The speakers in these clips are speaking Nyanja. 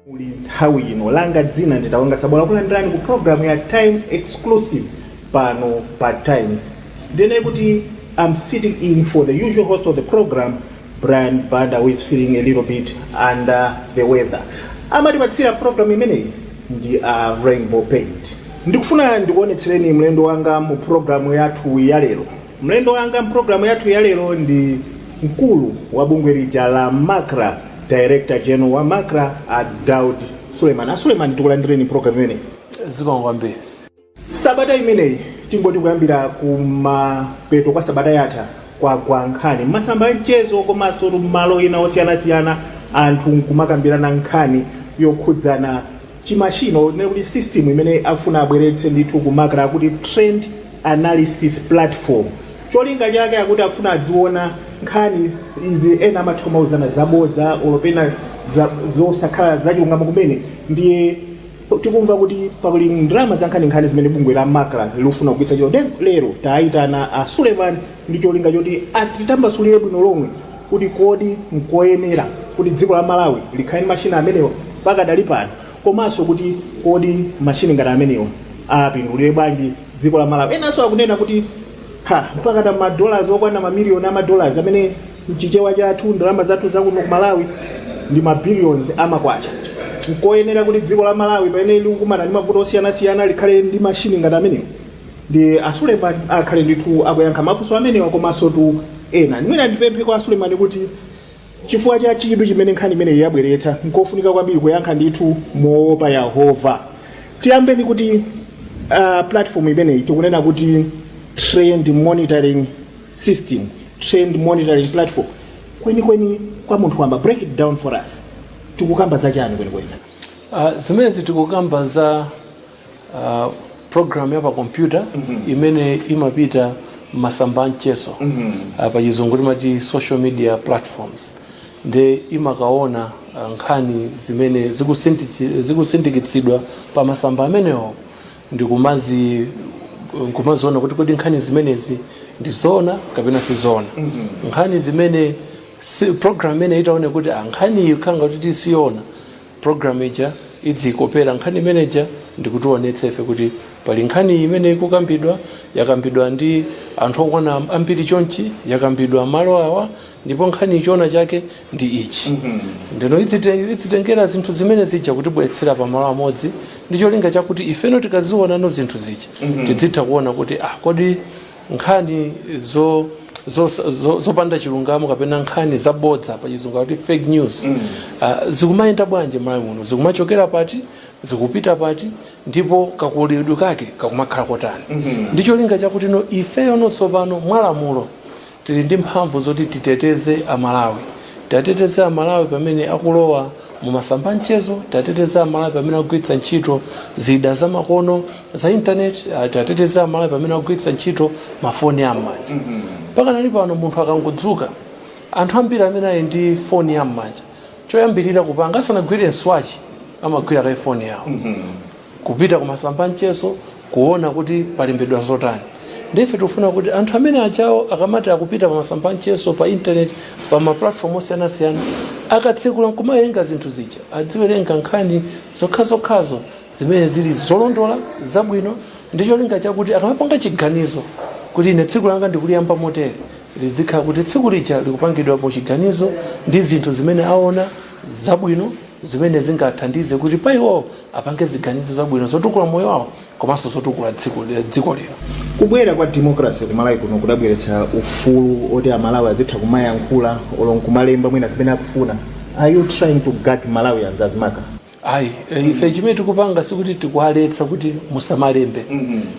Muli nthawi ino langa dzina ndi Wonga Sabola takulandirani ku programu ya time exclusive pano pa times ndinene kuti i'm sitting in for the usual host of the program Brian Banda who is feeling a little bit under the weather amatipatsira program imeneyi ndi a Rainbow Paint. Ndikufuna ndikuonetsereni mlendo wanga mu program yathu ya lero. Mlendo wanga mu program yathu ya lero ndi mkulu wa bungwe lija la Macra, Director General wa Macra a Daud Suleiman. A Suleiman takulandirani mu program imeneyi. Zikomo kwambiri. Sabata imeneyi tingoti kuyambira kumapeto kwa sabata yatha kwagwa nkhani m'masamba a mchezo komansotu m'malo ena osiyanasiyana anthu nkumakambirana nkhani yokhudzana chimashini or tinene kuti system imene akufuna abweretse ndithu ku macra akuti Trend Analysis Platform. Cholinga chake akuti akufuna adziona nkhani izi ena amatha kumauzana zabodza olo pena zosakhala zachilungamo kumene ndiye. Tikumva kuti pali ndalama zankhaninkhani zimene bungwe la Macra likufuna kugwiritsa ntchito nde lero taitana a Suleman ndi cholinga choti atitambasulire bwino lomwe kuti kodi nkoyenera kuti dziko la Malawi likhale ndi machine amenewa pakadali pano komanso kuti kodi machine ngati amenewa apindulire bwanji dziko la Malawi. Enanso akunena kuti ha! Mpakana ma dollars okwana ma million a ma dollars amene. M'chichewa chathu, ndalama zathu za kuno ku Malawi ndi ma billions a ma kwacha. Nkoyenera kuti dziko la Malawi pamene likukumana ndi mavuto osiyana siyana likhale ndi machine ngati amenewa? Nde a Suleman akhale ndithu akuyankha mafunso amenewa komansotu ena. Mwina ndipemphe kwa a Suleman kuti chifukwa cha chidwi chimene nkhani imeneyi yabweretsa, nkofunika kwambiri kuyankha ndithu moopa Yehova. Tiyambe ndi kuti platform imeneyi tikunena kuti Trend Monitoring. system, trend monitoring platform, kwenikweni kwa munthu wamba, break it down for us, tikukamba za chani kwenikweni? Uh, zimenezi tikukamba za uh, program ya pa kompyuta mm -hmm. imene imapita masamba a mchezo mm -hmm. uh, pa chizungu timati social media platforms nde imakaona uh, nkhani zimene zikusindikitsidwa pa masamba amenewo ndikumazi nkumaziona kuti kodi nkhani zimenezi ndi zoona kapena si zoona nkhani zimene si, program imene itaone kuti ah, nkhani iyi ikukhala ngati siyoona program ija idzikopera nkhani imeneja ndikutionetsa ife kuti pali nkhani imene ikukambidwa yakambidwa ndi anthu okwana ambiri chonchi yakambidwa malo awa ndipo nkhani ichiona chake ndi ichi ndeno idzite- idzitengera zinthu zimene zija kutibweretsera pamalo amodzi ndi cholinga chakuti ifeno tikazionano zinthu zija tidzitha kuona kuti ah, kodi nkhani zo zo- zo- zopanda chilungamo kapena nkhani zabodza pa chizungu kuti fake news ah, zikumayenda bwanji Malawi muno zikumachokera pati zikupita pati ndipo kakoleredwe kake kakumakhala kotani ndi cholinga chakuti no ifeyo no tsopano mwalamulo Tili ndi mphamvu zoti titeteze a Malawi. Tiateteze a Malawi pamene akulowa mu masamba a mchezo, tiateteze a Malawi pamene akugwiritsa ntchito zida za makono za internet, tiateteze a Malawi pamene akugwiritsa ntchito ma foni a m'manja. Pakanali pano munthu akangodzuka, anthu ambiri amene ali ndi foni ya m'manja, choyambilira kupanga asanagwire mswachi amagwira kaye foni yawo. kupita kumasamba amchezo kuona kuti palembedwa zotani nde ife tikufuna kuti anthu amene ajawo akamati akupita pamasamba amchezo pa internet pa maplatform osiyanasiyana akatsekula nkumawerenga zinthu zija adziwerenga nkhani zokhazokhazo zimene zili zolondola zabwino ndi cholinga chakuti akamapanga chiganizo kuti ine tsiku langa ndikuliyamba motere lizikhala kuti tsiku lija likupangidwa pa chiganizo ndi zinthu zimene aona zabwino zimene zingathandize kuti pa iwowo apange ziganizo zabwino zotukula moyo wawo komanso zotukula dziko dziko lino. Kubwera kwa democracy ku Malawi kuno kudabweretsa ufulu oti amalawi azitha kumayankhula olo nkumalemba mwina zimene akufuna. Are you trying to gag Malawians as MACRA? Ayi, eh, ife chimene tikupanga sikuti tikuwaletsa kuti musamalembe.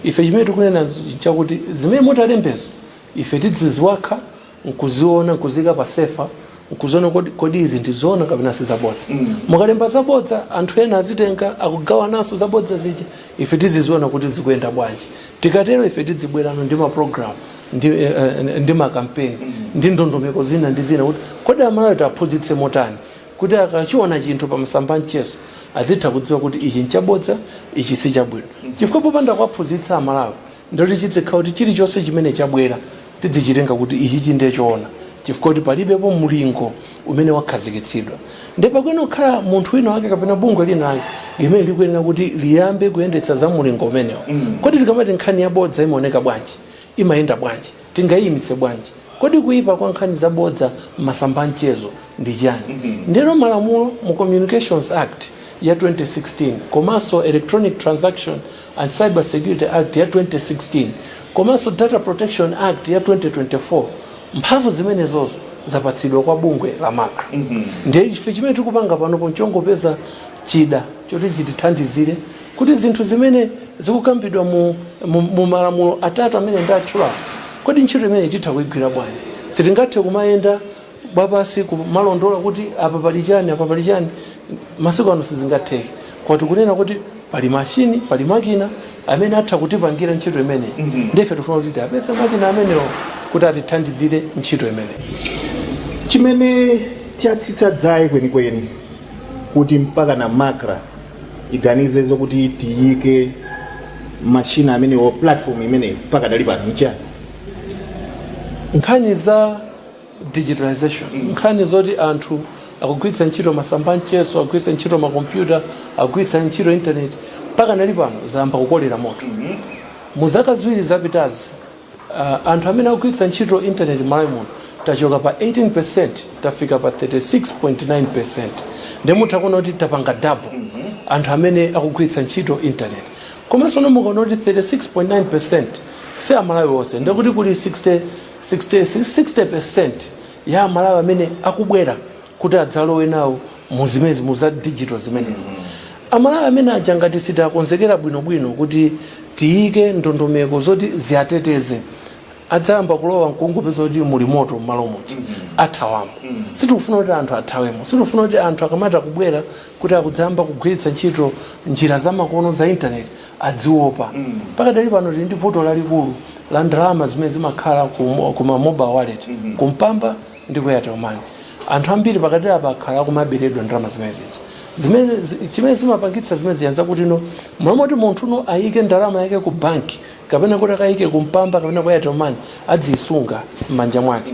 Ife chimene tikunena chakuti zimene mutalembezo ife tidziziwakha nkuziona nkuziika pa sefa nkuziona kodi, kodi izi ndizoona kapena sizabodza mm. mukalemba zabodza anthu ena azitenga akugawananso zabodza zija ife tiziziona kuti zikuyenda bwanji tikatero ife tidzibwerano ndi maprogramu ndi, eh, eh, ndi makampeni mm. ndi ndondomeko zina ndi zina kuti kodi amalawi tiaphunzitse motani kuti akachiona chinthu pa masamba a mchezo azitha kudziwa kuti ichi nchabodza ichi sichabwino mm. chifukwa popanda kuwaphunzitsa amalawi Nde kuti chizikhala kuti chilichonse chimene chabwera tidzichitenga kuti ichichi ndiye choona chifukwa kuti palibepo mlingo umene wakhazikitsidwa ndiye pakuyenera kukhala munthu wina wake kapena bungwe lina lake limene likuyenera kuti liyambe kuyendetsa za mlingo umenewo. Kodi tikamati nkhani yabodza imaoneka bwanji? Imayenda bwanji? tingaiimitse bwanji? Kodi kuipa kwa nkhani zabodza m'masamba a mchezo ndi chiyani? Ndiyeno malamulo mu Communications Act ya 2016 komanso Electronic Transaction and Cyber Security Act ya 2016 komanso Data Protection Act ya 2024, mphamvu zimenezozo zapatsidwa kwa bungwe la MACRA. Ndiye ife chimene tikupanga panopo n'chongopeza chida choti chitithandizire Kodi zinthu zimene zikukambidwa mu, mu, mu malamulo atatu amene ndatchulawo, kodi ntchito imeneyi titha kuigwira bwanji? Sitingathe kumayenda wapansi kumalondola kuti apa pali chani, apa pali chani. Masiku ano sizingatheke, koma tikunena kuti pali mashini, pali makina amene atha kutipangira ntchito imeneyi. Ndiye ife tikufuna kuti tiapeze makina amenewo kuti atithandizire ntchito imeneyi. Chimene chatsitsa dzaye kwenikweni kuti mpakana Macra tiganize zokuti tiyike mashini amenewo platform imeneyo pakadali pano nchani nkhani za digitalization nkhani zoti anthu akugwiritsa ntchito masamba amchezo akugwiritsa ntchito makompyuta akugwiritsa ntchito intaneti pakadali pano zayamba kukolera moto mu zaka ziwiri zapitazi Uh, anthu amene akugwiritsa ntchito intaneti m'malawi muno tachoka pa 18% tafika pa 36.9% nde mutha kuona kuti tapanga double anthu amene akugwiritsa ntchito intaneti komanso no mukaona kuti 36.9% si amalawi onse nde kuti kuli 60, 60, 60% ya amalawi amene akubwera kuti adzalowe nawo mu zimenezi mu za digital zimenezi amalawi amene aja ngati sitakonzekera bwinobwino kuti tiyike ndondomeko zoti ziwateteze adzayamba kulowa mkungopeza kuti muli moto mmalo moti athawamo sitikufuna kuti anthu athawemo sitikufuna kuti anthu akamati akubwera kuti akudzayamba kugwiritsa ntchito njira zamakono za intaneti adziopa pakadali pano tili ndi vuto lalikulu la ndalama zimene zimakhala ku ku ma mobile wallet ku mpamba ndi ku airtel money anthu ambiri pakati apa akhala akumaberedwa ndalama zimene zija zimene zi- chimene zimapangitsa zimene zija zakuti mmalo moti munthu no ayike ndalama yake ku banki kapena kuti akayike ku mpamba kapena ku airtel money adziyisunga m'manja mwake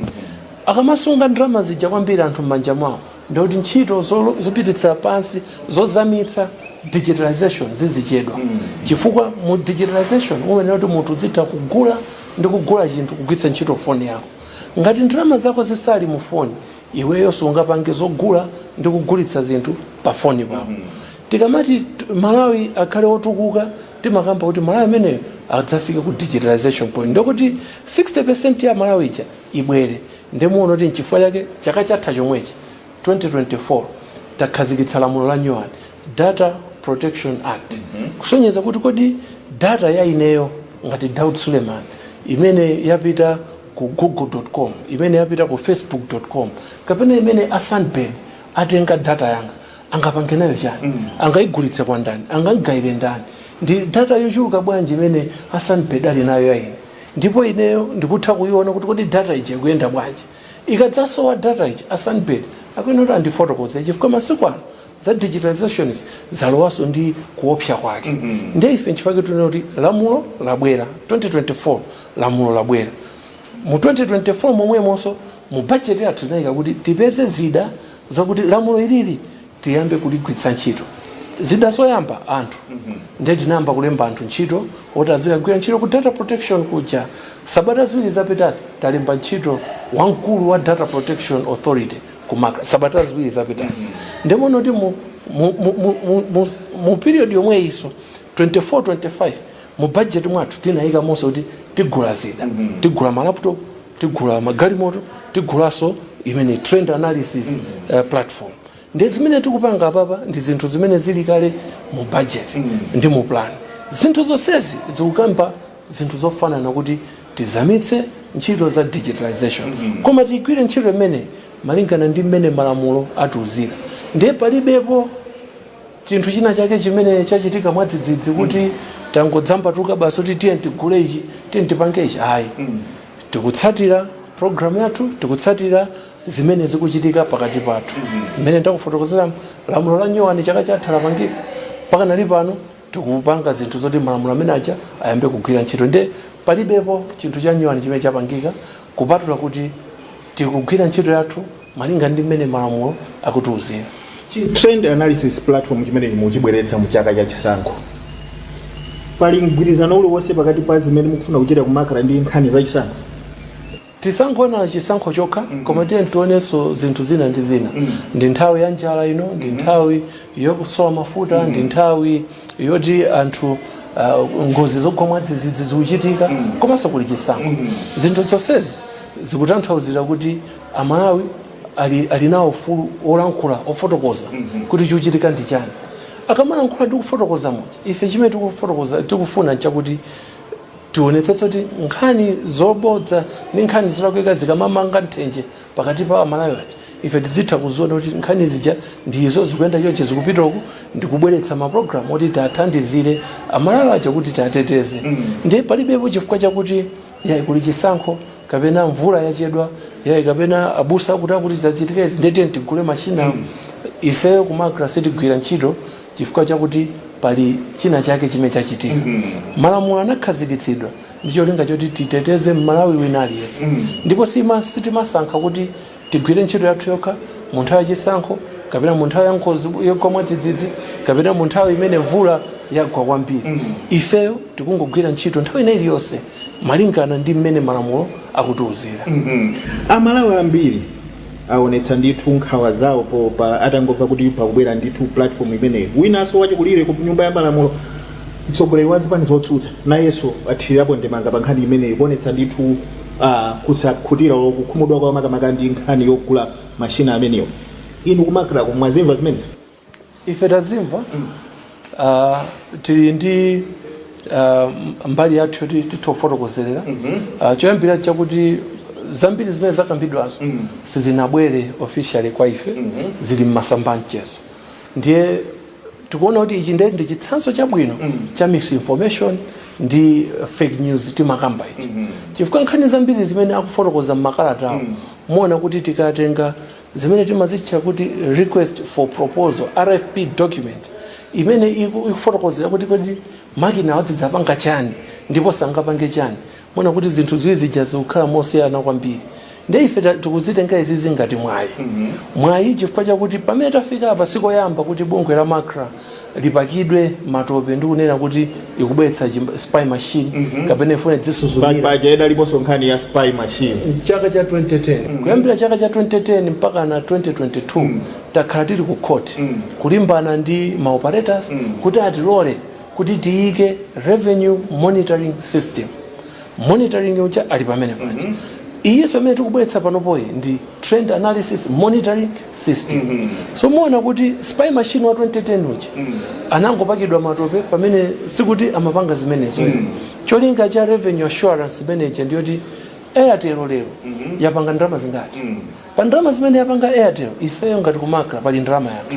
akamasunga ndalama zija kwambiri anthu m'manja mwawo ndikuti ntchito zolo- zopititsa pansi zozamitsa digitalization zizichedwa chifukwa mu digitalization umayenera kuti munthu udzitha kugula ndi kugula chinthu kugwiritsa ntchito foni yako Ngati ndalama zako zisali mu foni, iweyo sungapange zogula ndi kugulitsa zinthu pa foni pako. Tikamati Malawi akhale otukuka, timakamba kuti Malawi ameneyo adzafike ku digitalization point ndekuti 60% ya Malawi ija ibwere. Nde muona kuti nchifukwa chake chaka chatha chomwechi, 2024, takhazikitsa lamulo la nyuwani. Data Protection Act kusonyeza kuti kodi data ya ineyo ngati Daud Suleman imene yapita ku google.com imene yapita ku facebook.com kapena imene a Sunbird atenga data yanga angapange nayo chani angaigulitse kwa ndani angaigawire ndani ndi data yochuluka bwanji imene a Sunbird ali nayo ya ine ndipo ineyo ndikutha kuiona kuti kodi data ija ikuyenda bwanji ikadzasowa data ija a Sunbird akuyenera kuti andifotokoze chifukwa masiku ano za digitalization zalowaso ndi kuopsa kwake mm -hmm. nde ife nchifukwa chake tunena kuti lamulo labwera 2024 lamulo labwera mu 2024 momwemonso mu budget yathu tinayika kuti tipeze zida zakuti lamulo ilili tiyambe kuligwiritsa ntchito zida zoyamba anthu mm -hmm. nde tinayamba kulemba anthu ntchito oti azikagwira ntchito ku data protection kuja sabata ziwiri zapitazi talemba ntchito wamkulu wa data protection authority ku Macra sabata ziwiri zapitazi nde muona kuti mu, mu, mu, mu, mu, mu, mu period yomweyiso 24 25 mu budget mwathu tinayikanso kuti tigula zida tigula malaptop tigula magalimoto tigulanso imeneyi trend analysis uh, platform ndi zimene tikupanga apapa ndi zinthu zimene zili kale mu budget ndi mu plan zinthu zonsezi zikukamba zinthu zofanana kuti tizamitse ntchito za digitalisation koma tigwire ntchito imeneyi malingana ndi mmene malamulo akutiuzira ndiye palibepo chinthu china chake chimene chachitika mwadzidzidzi kuti tangodzambatuka basi kuti tiye tigule ichi tiye tipange ichi ayi tikutsatira programu yathu tikutsatira zimene zikuchitika pakati pathu mmene ndakufotokozera lamulo la nyuwani chaka chatha lapangika mpakana lili pano tikupanga zinthu zoti malamulo amene aja ayambe kugwira ntchito nde palibepo chinthu chanyuwani chimene chapangika kupatula kuti tikugwira ntchito yathu malinga ndi mmene malamulo akutiuzira trend analysis platform chimene mukuchibweretsa mu chaka cha chisankho pali mgwirizano uliwonse pakati pa zimene mukufuna kuchita ku Macra ndi nkhani za chisankho Tisangoona chisankho chokha koma tiyeni tionenso zinthu zina ndi zina. Ndi nthawi ya njala ino, ndi nthawi yokusowa mafuta, ndi nthawi yoti anthu ah, ngozi zogwa mwadzidzidzi zikuchitika komanso kuli chisankho. Zinthu zonsezi zikutanthauzira kuti Amalawi ali, ali nawo ufulu wolankhula wofotokoza kuti chikuchitika ndi chani. Akamalankhula ndi kufotokoza muja ife chimene tikufotokoza tikufuna chakuti Tionetsetse kuti nkhani zobodza ndi nkhani zolakwika zikamamanga nthenje pakati pa Amalawi aja, ife tidzitha kuziona kuti nkhani zija ndi izo, zikuyenda chonchi, zikupita uku, ndi kubweretsa mapulogalamu oti tiathandizire Amalawi aja kuti tiateteze. Ndiye palibepo chifukwa chakuti yayi kuli chisankho kapena mvula yachedwa, yayi kapena abusa akuti akuti zitachitika izi ndiye tiyeni tigule mashini awa. Ifeyo ku Macra sitigwira ntchito chifukwa chakuti pali china chake chimene chachitika mm -hmm. malamulo anakhazikitsidwa ndi cholinga choti titeteze mmalawi wina aliyense mm -hmm. ndipo sitimasankha kuti tigwire ntchito yathu yokha mu nthawi yachisankho kapena mu nthawi ya ngozi yogwa mwadzidzidzi kapena mu nthawi imene mvula yagwa kwambiri mm -hmm. ifeyo tikungogwira ntchito nthawi ina iliyonse malingana ndi mmene malamulo akutiuzira mm -hmm. amalawi ambiri awonetsa ndithu nkhawa zawo po atangomva kuti pakubwera ndithu platform imeneyo. Winanso wachikulire ku nyumba ya malamulo, mtsogoleri wa zipani zotsutsa nayenso athirirapo ndemanga pa nkhani imeneyi kuonetsa ndithu ah, kusakhutira olo kukhumudwa kwawo makamaka ndi nkhani yogula mashina amenewa. Inu ku MACRA ko mwazimva zimenezi? ife tazimva uh, tili ndi uh, mbali yathu yoti titha kufotokozerera uh, choyambirira chakuti zambiri zimene zakambidwazo sizinabwere officially kwa ife zili m'masamba a mchezo ndiye tikuona kuti ichi ndiye ndi chitsanzo chabwino cha misinformation ndi uh, fake news timakamba ichi chifukwa nkhani zambiri zimene akufotokoza m'makalatawo muona kuti tikatenga zimene timazitcha kuti request for proposal rfp document imene iku- ikufotokozera kuti kodi makina awa adzidzapanga chani ndipo sangapange chani muona kuti zinthu ziwiri zija zikukhala mosiyana kwambiri nde ife ta- tikuzitenga izizi ngati mwayi mwayi chifukwa chakuti pamene tafika apa sikoyamba kuti bungwe la macra lipakidwe matope ndi kunena kuti ikubweretsa chim- spy machine kapena ifuna idzisuzumira spy idaliponso nkhani ya spy machine chaka cha 2010 kuyambira chaka cha 2010 mpaka na 2022 takhala tili ku court kulimbana ndi ma operators kuti atilole kuti tiyike revenue monitoring system monitoring uja ali pamene paja iyinso imene tikubweretsa panopoyi ndi trend analysis monitoring system so muona kuti spy machine wa 2010 uja anangopakidwa matope pamene sikuti amapanga zimenezo cholinga cha revenue assurance manager ndiyoti airtel lero yapanga ndalama zingati pa ndalama zimene yapanga airtel ifeyo ngati ku macra pali ndalama yathu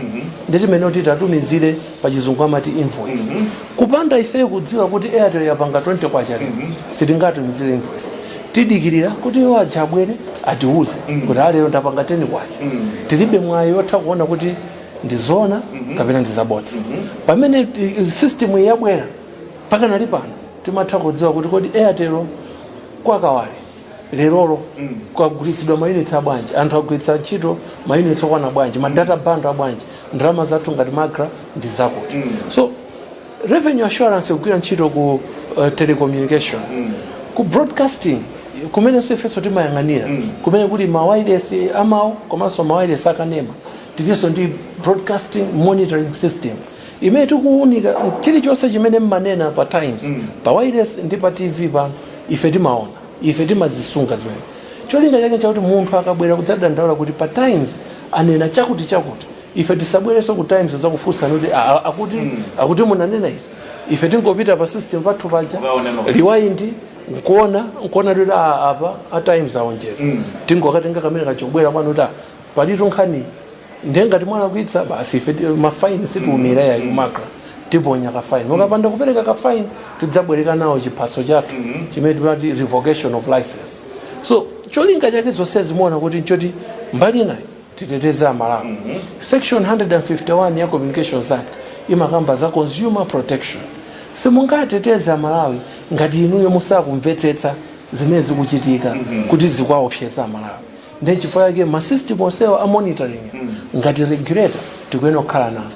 ndi imeneyi kuti tatumizire pachizungu amati invoice mm -hmm. kupanda ifeyo kudziwa kuti airtel yapanga 20 kwacha mm -hmm. sitingatumizire invoice tidikirira kuti iwo aja abwere atiuze mm -hmm. kuti a lero ndapanga 10 kwacha mm -hmm. tilibe mwayi otha kuona kuti ndizoona mm -hmm. kapena ndizabodza mm -hmm. pamene eh, system yabwera pakanali pano timatha kudziwa kuti kodi airtel kwakawale lerolo kwagulitsidwa mayunitsi abwanji anthu agwiritsa ntchito mayunitsi okwana bwanji ma data bundle abwanji ndalama zathu ngati macra ndi zakuti so revenue assurance kugwira ntchito ku uh, telecommunication ku broadcasting kumenenso ifenso timayang'anira kumene kuli mawayilesi amawu komanso mawayilesi akanema tilinso ndi broadcasting monitoring system imene tikuwunika chilichonse chimene mmanena pa times mm. pa wayilesi ndi pa tv pano ife timaona ife timazisunga zimene cholinga chake chakuti munthu akabwera kudzadandaula kuti pa times anena chakuti chakuti ife tisabwereso ku times kudzakufunsani kuti akuti mm. akuti munanena izi ife tingopita pa system pathu paja riwaindi nkuona nkuona kuti apa a times aonjeza mm. tingokatenga kamene kachobwera kwanu kuti palitu nkhani ndiye ngati mwalakwitsa basi ife ti- mafaini sitiumira yayi ku macra tiponya kafaini ukapanda kupereka kafaini tidzabwereka nawo chiphaso chathu chimene timati revocation of license so cholinga chake zonse zimenezo kuti nchoti mbali inayi titeteze amalawi section 151 ya communications act imakamba za consumer protection simungateteze amalawi ngati inuyo musakumvetsetsa zimene zikuchitika kuti zikuwaopseza amalawi ndiye nchifukwa chake ma system onsewa a monitoring ngati regulator tikuyenera kukhala nawo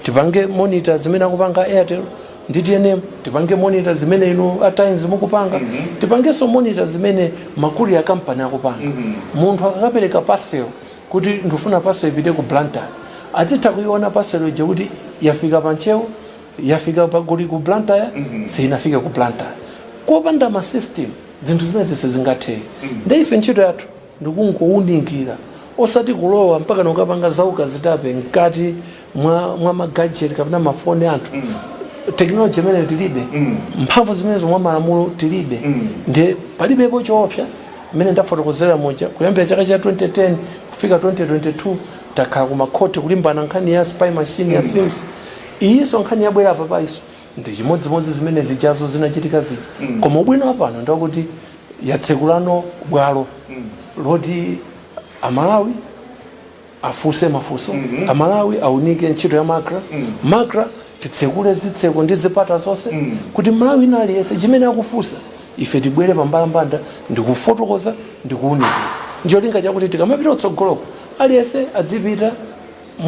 tipange monitor zimene akupanga airtel ndi tnm tipange monitor zimene inu a times mukupanga tipangenso monitor zimene ma courier kampani akupanga munthu akakapereka parcel kuti ndikufuna parcel ipite ku blantyre azitha kuiona parcel ija kuti yafika pa ntcheu yafika pa goli ku blantyre mm -hmm. sinafike ku blantyre kopanda ma system zinthu zimenezi sizingatheke mm -hmm. nde ife ntchito yathu ndi kungounikira osati kulowa mpaka nkukapanga za ukazitape mkati mwa, mwa magajeti kapena mafoni a anthu mm -hmm. teknoloji imeneyo tilibe mm -hmm. mphamvu zimenezo mwa malamulo tilibe mm -hmm. nde palibepo choopsa mmene ndafotokozera moja kuyambira chaka cha 2010 kufika 2022 takhala kumakhoti kulimbana nkhani ya spy machine ya mm. cirms mm -hmm iyinso nkhani yabwera apapayinso ndi chimodzimodzi zimene zijazo zinachitika zija mm. koma ubwino wapano ndi wakuti yatsekulano bwalo mm. loti amalawi afunse mafunso mm -hmm. amalawi aunike ntchito ya macra mm. macra titsekule zitseko ndi zipata zonse mm. kuti m'malawi wina aliyense chimene akufunsa ife tibwere pambalambanda ndikufotokoza ndikuunikira ncholinga chakuti tikamapita utsogoloko aliyense adzipita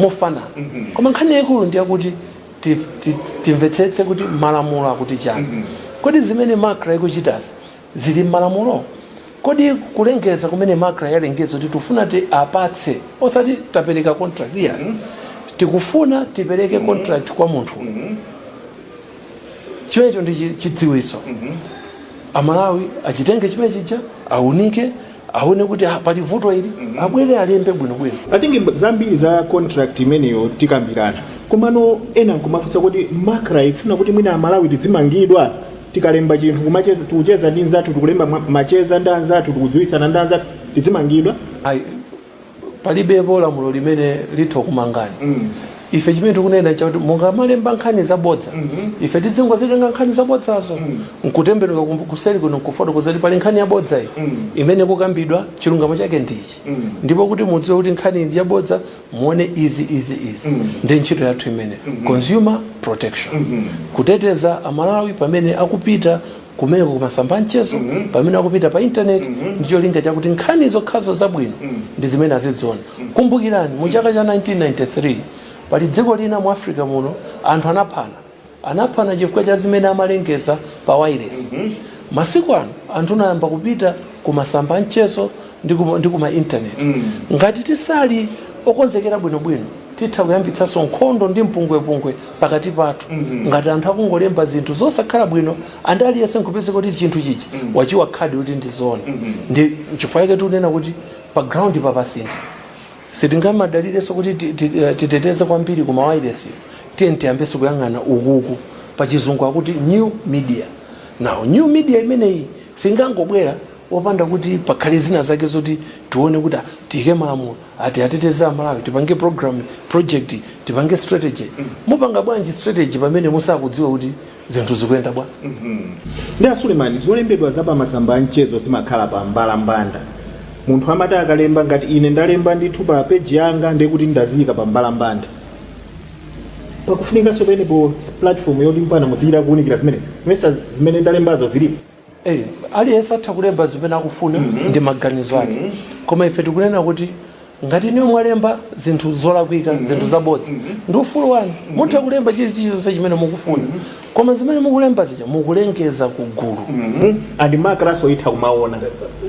mofanana koma nkhani yaikulu ndi yakuti ti- ti- timvetsetse kuti malamulo akuti chani kodi zimene macra ikuchitazi zili mmalamulo kodi kulengeza kumene macra yalengeza kuti tifuna tiwapatse osati tapereka contract iyayi tikufuna tipereke contract kwa munthu chimenecho ndi chi- chidziwitso amalawi achitenge chimene chija aunike aone kuti ah, pali vuto ili abwere alembe bwinobwino i think zambiri za contract imeneyo tikambirana komano ena akumafunsa kuti macra ikufuna kuti mwina amalawi tidzimangidwa tikalemba chinthu kumacheza- tikucheza ndi nzathu tikulemba ma- macheza ndi anzathu tikudziwitsana ndi anzathu tidzimangidwa ayi palibepo lamulo limene litha kumangani mm. ife chimene tikunena ndichakuti mungamalemba nkhani zabodza mm -hmm. ife tidzingozitenga nkhani zabodzazo mm. nkutembenuka kuseri kuno nkufotokoza kuti pali nkhani yabodza iyi mm. imene ikukambidwa chilungamo chake ndichi mm. ndipo kuti mudziwe kuti nkhani iji yabodza muone izi izi izi mm. ndi ntchito yathu imene mm -hmm. consumer protection mm -hmm. kuteteza amalawi pamene akupita kumeneko kumasamba amchezo mm -hmm. pamene akupita pa intaneti mm -hmm. ndicholinga chakuti nkhani zokhazo zabwino mm -hmm. ndi zimene aziziona mm -hmm. kumbukirani mu chaka cha 1993 pali dziko lina mu africa muno anthu anaphana anaphana chifukwa cha zimene amalengeza pa wailesi mm -hmm. masiku ano anthu anayamba kupita ku masamba amchezo ndi ku ma internet mm. ngati tisali okonzekera bwinobwino titha kuyambitsanso nkhondo ndi mpungwepungwe pakati pathu mm -hmm. ngati anthu akungolemba zinthu zosakhala bwino munthu aliyense nkupeza kuti chinthu chichi mm -hmm. wachiwa khadi kuti ndi zoona mm -hmm. ndi chifukwa chake tikunena kuti pa ground papasintha sitingamadalirenso kuti eh, titeteze kwambiri ku mawairesi tiyeni tiyambenso kuyang'ana ukuku pa chizungu akuti new media now new media imeneyi singangobwera opanda kuti pakhale zina zake zoti tione kuti ah, tiyike malamulo ati ateteze amalawi tipange program project tipange strategy mupanga bwanji strategy pamene musakudziwa kuti zinthu zikuyenda bwa ndi a Suleman zolembedwa za pamasamba anchezo zimakhala pa mbalambanda munthu amati akalemba ngati ine ndalemba ndithu pa peji yanga ndekuti ndaziyika pa mbalambanda pakufunikanso penepo platform yoti mpaka muzikaunikira zimenezi mmesa zimene ndalembazo zilipo Hey, aliyense atha kulemba zimene akufuna mm -hmm. ndi maganizo ake mm -hmm. koma ife tikunena kuti ngati inuyo mwalemba zinthu zolakwika mm -hmm. zinthu zabodza mm -hmm. ndi ufulu wanu mm -hmm. mutha kulemba chilichonse chimene mukufuna mm -hmm. koma zimene mukulemba zija mukulengeza ku gulu mm -hmm. and MACRA nso itha kumaona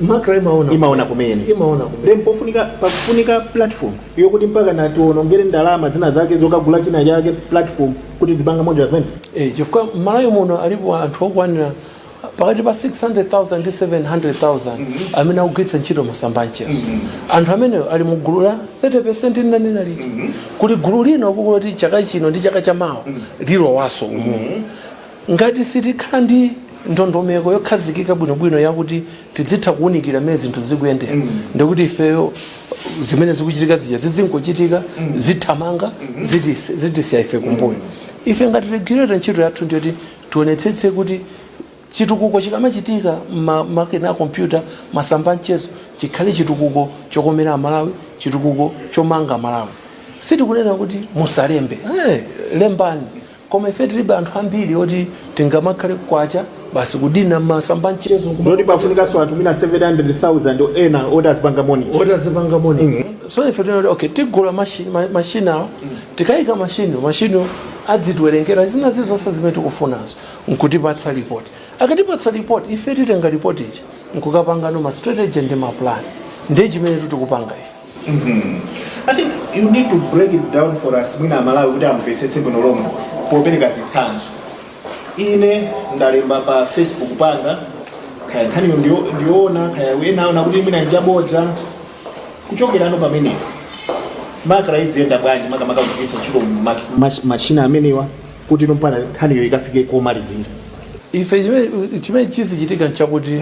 MACRA imaona imaona kumene imaona kumene then pofunika pakufunika platform yokuti mpaka mutionongere ndalama zina zake zokagula china chake platform kuti tipanga monitor zimene Eh, chifukwa mmalawi muno alipo anthu okwanira pakati pa 600000 ndi 700000 amene akugwiritsa ntchito masamba anchezo anthu amenewo ali mu gulu la 30 linanena lija kuli gulu lino kukula kwake chaka chino ndi chaka cha mawa lilowaso umu ngati sitikhala ndi ndondomeko yokhazikika bwinobwino yakuti tidzitha kuwunikira mmene zinthu zikuyendera mm. ndekuti ifeyo zimene zikuchitika zija zizingochitika mm. zithamanga mm -hmm. zitisiya ife kumbuyo mm -hmm. ife ngati regulator ntchito yathu ndiyoti tionetsetse kuti chitukuko chikamachitika makina a kompyuta masamba amchezo chikhale chitukuko chokomera amalawi chitukuko chomanga malawi sitikunena kuti musalembe hey, eh, lembani koma ife tilibe anthu ambiri oti tingamakhale kwacha basi kudina masamba amchezo ndiye kuti nkumati pafunikanso anthu mwina 700,000 ena oti azipanga monitor oti azipanga monitor so ife tinati okay tigula mashi- ma- mashini awa tikayika mashini mashini azitiwerengera zina zilizonse zimene tikufunazo nkutipatsa ripoti akatipatsa ripoti ife titenga ripoti ija nkukapanga no ma strategy ndi ma plan ndiye chimene tikupanga ife I think you need to break it down for us mwina amalawi kuti amvetsetse bwino lomwe popereka zitsanzo ine ndalemba pa facebook panga kaya nkhaniyo ndiyo- ndiyoona kaya wina waona kuti mwina njabodza kuchokerano pamenepo nkhani idziyenda bwanji makamaka kugwiritsa ntchito ma- ma- machina amenewa kuti inyo mpaka nkhaniyo ikafike komalizira ife chimene chimene chizichitika nchakuti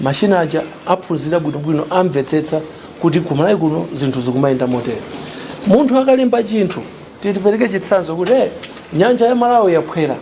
Machine aja aphunzira bwinobwino amvetsetsa kuti ku Malawi kuno zinthu zikumayenda motere. Munthu akalemba chinthu tipereke chitsanzo kuti eh, nyanja ya Malawi yaphwera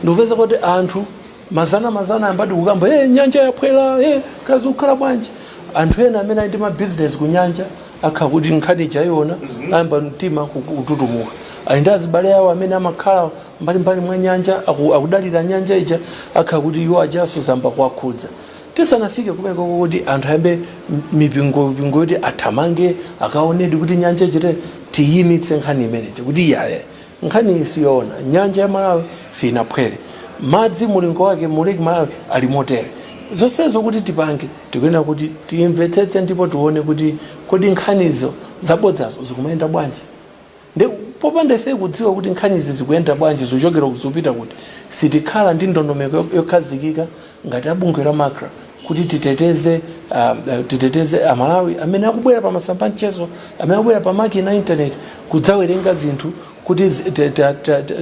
ndikupezeka kuti anthu mazana mazana ayambadi kukamba eh, nyanja yaphwera eh, kaya zikukhala bwanji anthu ena amene ali ndi mabizinesi ku nyanja akhala kuti nkhani ija ayiona ayamba mtima kututumuka ali ndi azibale awo amene amakhala mbalimbali mwa nyanja aku- akudalira nyanja ija akhala kuti iwo ajanso zayamba kuwakhudza tisanafike kumeneko kuti anthu ayambe m- mipingo mipingo yoti athamange akaonedi kuti nyanja ichite tiyimitse nkhani imeneyi kuti iyayi nkhaniyi siyoona nyanja ya malawi sinaphwere madzi mulingo wake mu Lake Malawi ali motere zonsezo kuti tipange tikuyenera kuti timvetsetse ndipo tione kuti kodi nkhanizo zabodzazo zikumayenda bwanji Nde popanda ifeyo kudziwa kuti nkhanizi zikuyenda bwanji, zikuchokera kuti zikupita kuti, sitikhala ndi ndondomeko yokhazikika ngati a bungwe la MACRA kuti titeteze titeteze a Malawi amene akubwera pa masamba a mchezo, amene akubwera pa makina a internet kudzawerenga zinthu kuti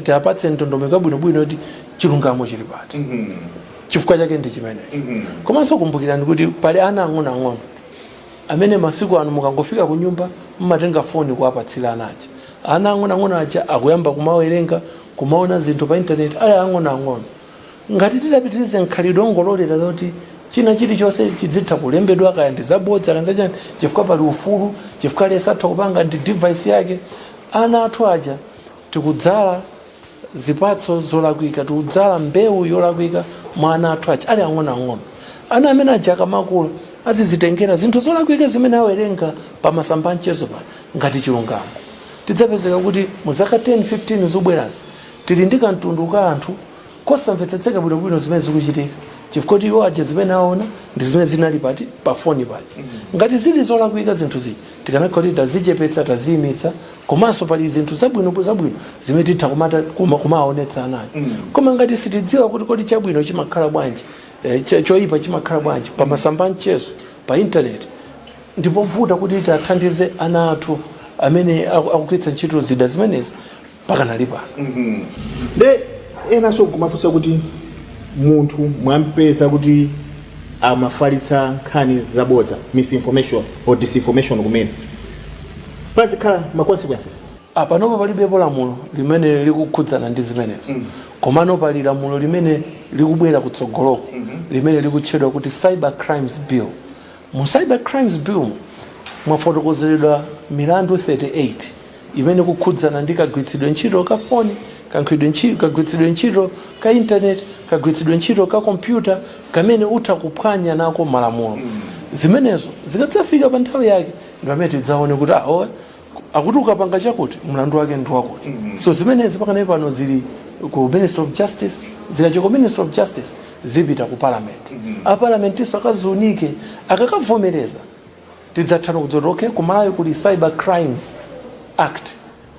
tiwapatse ndondomeko yabwinobwino yoti chilungamo chili pati. Chifukwa chake ndi chimenecho. Komanso kumbukirani kuti pali ana ang'onoang'ono. amene masiku ano mukangofika kunyumba mumatenga foni kuwapatsira ana aja ana ang'onoang'ono aja akuyamba kumawerenga kumaona zinthu pa intaneti ali ang'onoang'ono ngati titapitiriza mkhalidwe ongololera zoti china chilichonse chidzitha kulembedwa kaya ndi zabodza kaya zachani chifukwa pali ufulu chifukwa aliyense atha kupanga ndi device yake ana athu aja tikudzala zipatso zolakwika tikudzala mbewu yolakwika mwa ana athu aja ali ang'onoang'ono ana amene aja akamakula azidzatengera zinthu zolakwika zimene awerenga pa masamba a mchezo pano ngati chilungamo tidzapezeka kuti mu zaka 10 15 zikubwerazi tili ndi kamtundu ka anthu kosamvetsetseka bwinobwino zimene zikuchitika chifukwa kuti iwo aja zimene aona ndi zimene zinali pati pa foni paja ngati zili zolakwika zinthu zija Tikanakhala kuti tazichepetsa, taziimitsa komanso pali zinthu zabwino zabwino zimene titha kuma- kuma- kumaonetsa ana aja koma ngati sitidziwa kuti kodi chabwino chimakhala bwanji eh, cho- choyipa chimakhala bwanji pa masamba a mchezo pa intaneti ndipovuta kuti tathandize ana athu amene aku- akugwiritsa ntchito zida zimenezi pakanali pano nde enanso nkumafunsa kuti munthu mwampeza kuti amafalitsa nkhani zabodza misinformation or disinformation kumene pazikhala ma consequences Ah, panopa palibepo lamulo limene likukhudzana ndi zimenezo komano pali lamulo limene likubwera kutsogoloko limene likutchedwa kuti cyber crimes bill Mu Cyber Crimes Bill mu, mwafotokozeredwa milandu 38 imene ikukhudzana ndi kagwiritsidwe ntchito ka foni, kagwiritsidwe ntchito, kagwiritsidwe ntchito ka internet, kagwiritsidwe ntchito ka kompyuta kamene utha kuphwanya nako malamulo. Zimenezo zikadzafika pa nthawi yake ndi pamene tidzaone kuti aowe, akuti ukapanga chakuti mlandu wake ndi wakuti so zimenezi pakanali pano zili ku ministry of justice zikachoka ku ministry of justice zipita ku parliament a parliamentinso akaziunike akakavomereza tidzatha no kudzati okay kumalawi kuli cyber crimes act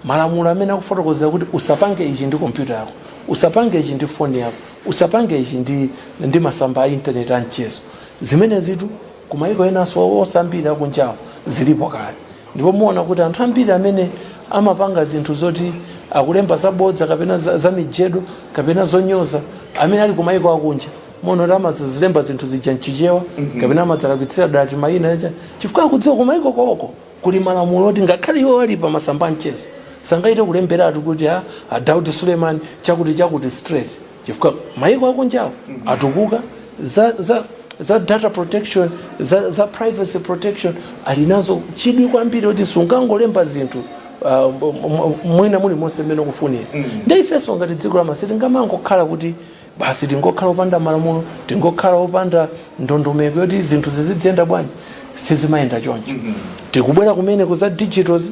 malamulo amene akufotokozera kuti usapange ichi ndi kompyuta yako usapange ichi ndi foni yako usapange ichi ndi, ndi masamba a intaneti a mchezo zimenezitu kumayiko enanso ambiri akunjawo zilipo kale ndipo muona kuti anthu ambiri amene amapanga zinthu zoti akulemba zabodza kapena za- zamijedo kapena zonyoza amene ali kumayiko akunja muona kuti amazilemba zinthu zija mchichewa kapena amazalakwitsira dala mayina aja chifukwa akudziwa kumayiko koko kuli malamulo oti ngakhale iwo ali pa masamba a mchezo sangathe kulemberatu kuti a, a daud suleman chakuti chakuti straight chifukwa maiko akunjawo atukuka za, za, za data protection za, za privacy protection ali nazo chidwi kwambiri kuti sungangolemba zinthu uh, m- m- mulimonse mmene ukufunira nde ifenso ngati dziko lama- sitingamangokhala kuti basi tingokhala opanda malamulo tingokhala opanda ndondomeko yoti zinthu zizidziyenda bwanji sizimayenda choncho tikubwera kumene ku za digitals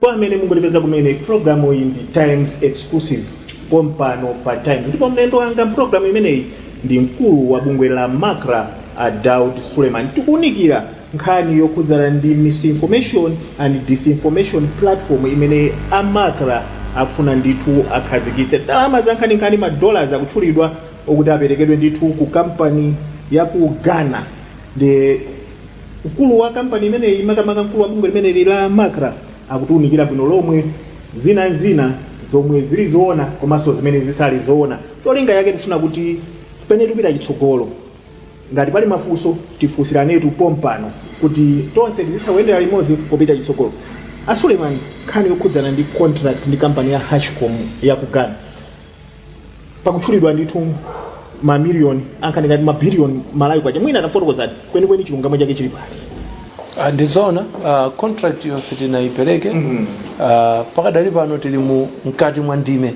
Kwa amene mungotipeza kumene, pulogalamu iyi ndi Times Exclusive pompano pa Times ndipo mlendo wanga m'pulogalamu imeneyi ndi mkulu wa bungwe la Macra a Daud Suleman. Tikuunikira nkhani yokhudzana ndi Misinformation and Disinformation Platform imene a Macra akufuna ndithu akhazikitse. Ndalama zankhaninkhani, ma dollars akutchulidwa okuti aperekedwe ndithu ku kampani ya ku Ghana. Ndiye Mkulu wa kampani imeneyi, makamaka mkulu wa bungwe limeneli la Macra, akutiunikira bwino lomwe zina n'zina zomwe zili zoona komanso zimene zisali zoona. Cholinga chake tikufuna kuti pamene tikupita chitsogolo, ngati pali mafunso tifunsiranetu pompano kuti tonse tizitha kuyendera limodzi popita chitsogolo. A Suleiman, nkhani yokhudzana ndi contract ndi kampani ya Hashcom ya ku Ghana, pakutchulidwa ndithu mamiliyoni ankhaninkhani ngati mabiliyoni malawi kwacha mwina atafotokozani kwenikweni chilungamo chake chili pati Ah, ndizona ah, contract yo sitinayipereke ah, pakadali pano tili mu mkati mwa ndime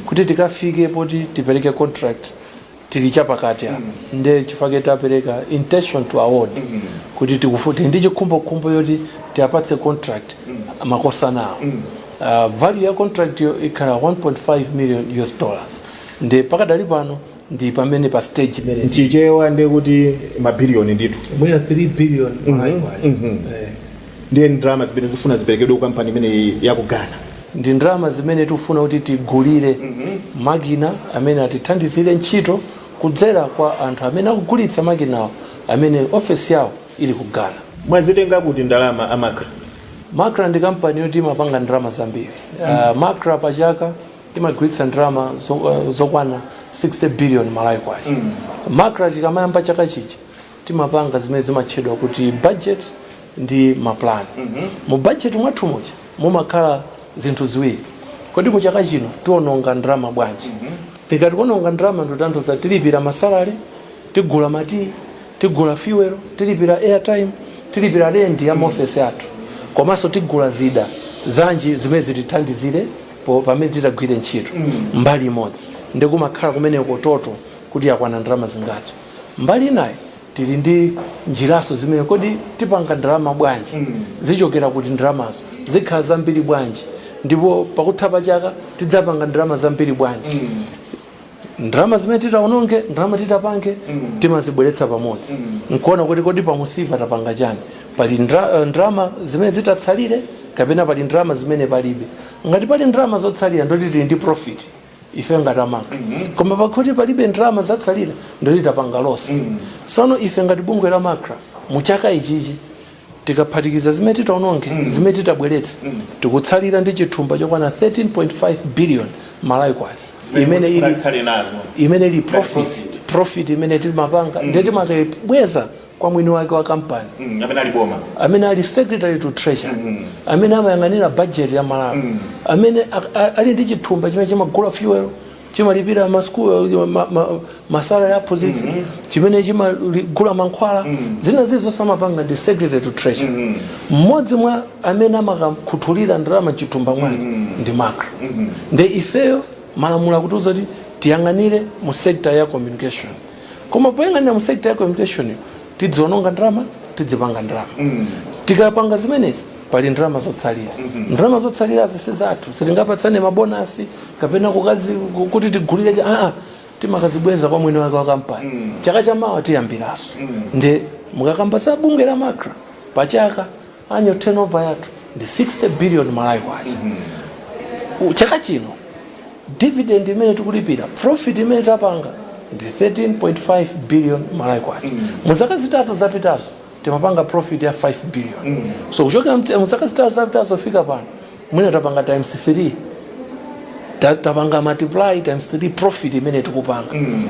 kuti tikafike poti tipereke contract tili chapakati apa nde chifukwa chake tapereka intention to award kuti tili ndi chikhumbokhumbo choti tiapatse contract makosana awo Uh, value ya contract yo ikhala 1.5 million us dollars nde pakadali pano ndi pamene pa stage imene pachichewa ndekuti mabiliyoni ndithu mwina 3 billion malayiwayo ndiye ndalama zimene zikufuna ziperekedwe ku kampani imeneyi ya ku ghana ndi ndalama zimene tikufuna kuti tigulire makina amene atithandizire ntchito kudzera kwa anthu amene akugulitsa makinawo amene ofesi yawo ili ku ghana mwazitenga kuti ndalama a macra macra ndi kampani yoti imapanga ndalama zambiri uh, macra pa chaka imagwiritsa ndalama zo- uh, zokwana 60 billion malawi kwacha macra tikamayamba chaka chichi timapanga zimene zimatchedwa kuti budget ndi mapulani mm -hmm. mu budget mwathu muja mumakhala zinthu ziwiri kodi mu chaka chino tiononga ndalama bwanji mm -hmm. tikati kuononga ndalama ndotanthuza tilipira masalale tigula matiyi tigula fuel tilipira airtime tilipira rendi ya maofesi athu komanso tigula zida zanji zimene zitithandizire pamene titagwire ntchito mm. mbali imodzi ndiye kumakhala kumeneko total kuti yakwana ndalama zingati mbali inayi tili ndi njiraso zimene kodi tipanga ndalama bwanji zichokera kuti ndalamazo zikhala zambiri bwanji ndipo pakutha pa chaka tidzapanga ndalama zambiri bwanji ndalama zimene titaononge ndalama titapange timazibweretsa pamodzi nkuona kuti kodi pansipa tapanga chani pali ndra- ndalama zimene zitatsalire kapena pali ndalama zimene palibe ngati pali ndalama zotsalira ndoti tili ndi profit ife ngati a macra koma pakakhala kuti palibe ndalama zatsalira ndoti tapanga losi sono ife ngati bungwe la macra mu chaka ichichi tikaphatikiza zimene titaononge zimene titabweretse tikutsalira ndi chithumba chokwana 13.5 billion malawi kwacha imene ili Tsali nazo. imene ili profit profit imene timapanga ndiye timakabweza kwa mwini wake wa kampani mm, amene ali boma amene ali secretary to treasury mm -hmm. amene amayang'anira budget ya Malawi mm -hmm. amene ali ndi chithumba chimene chimagula fuel chimalipira masukulu ma, ma, masalare a aphunzitsi mm -hmm. chimene chimagula mankhwala mm -hmm. zina zili zonse amapanga ndi secretary to treasury mm-hmm. mmodzi mm -hmm. mwa amene amakakhuthulira ndalama mchithumba mwake mm -hmm. ndi macra mm -hmm. nde ifeyo malamulo akutiuza kuti tiyang'anire mu sector ya communication koma poyang'anira mu sector ya communicationyo sitidziononga ndalama tidzipanga ndalama tikapanga zimenezi pali ndalama zotsalira ndalama zotsalirazi si zathu sitingapatsane mabonasi kapena kukazi kuti tigulire chani aa timakazibweza kwa mwini wake wa kampani chaka chamawa tiyambiranso nde mukakamba za bungwe la macra pachaka annual turnover yathu ndi 60 billion malawi kwacha U- chaka chino dividend imene tikulipira profit imene tapanga ndi 13.5 billion malawi kwacha mu zaka zitatu zapitazo timapanga profit ya 5 billion so kuchokera mte- mu zaka zitatu zapitazo kufika pano mwina tapanga times 3 Ta- tapanga multiply times 3 profit imene tikupanga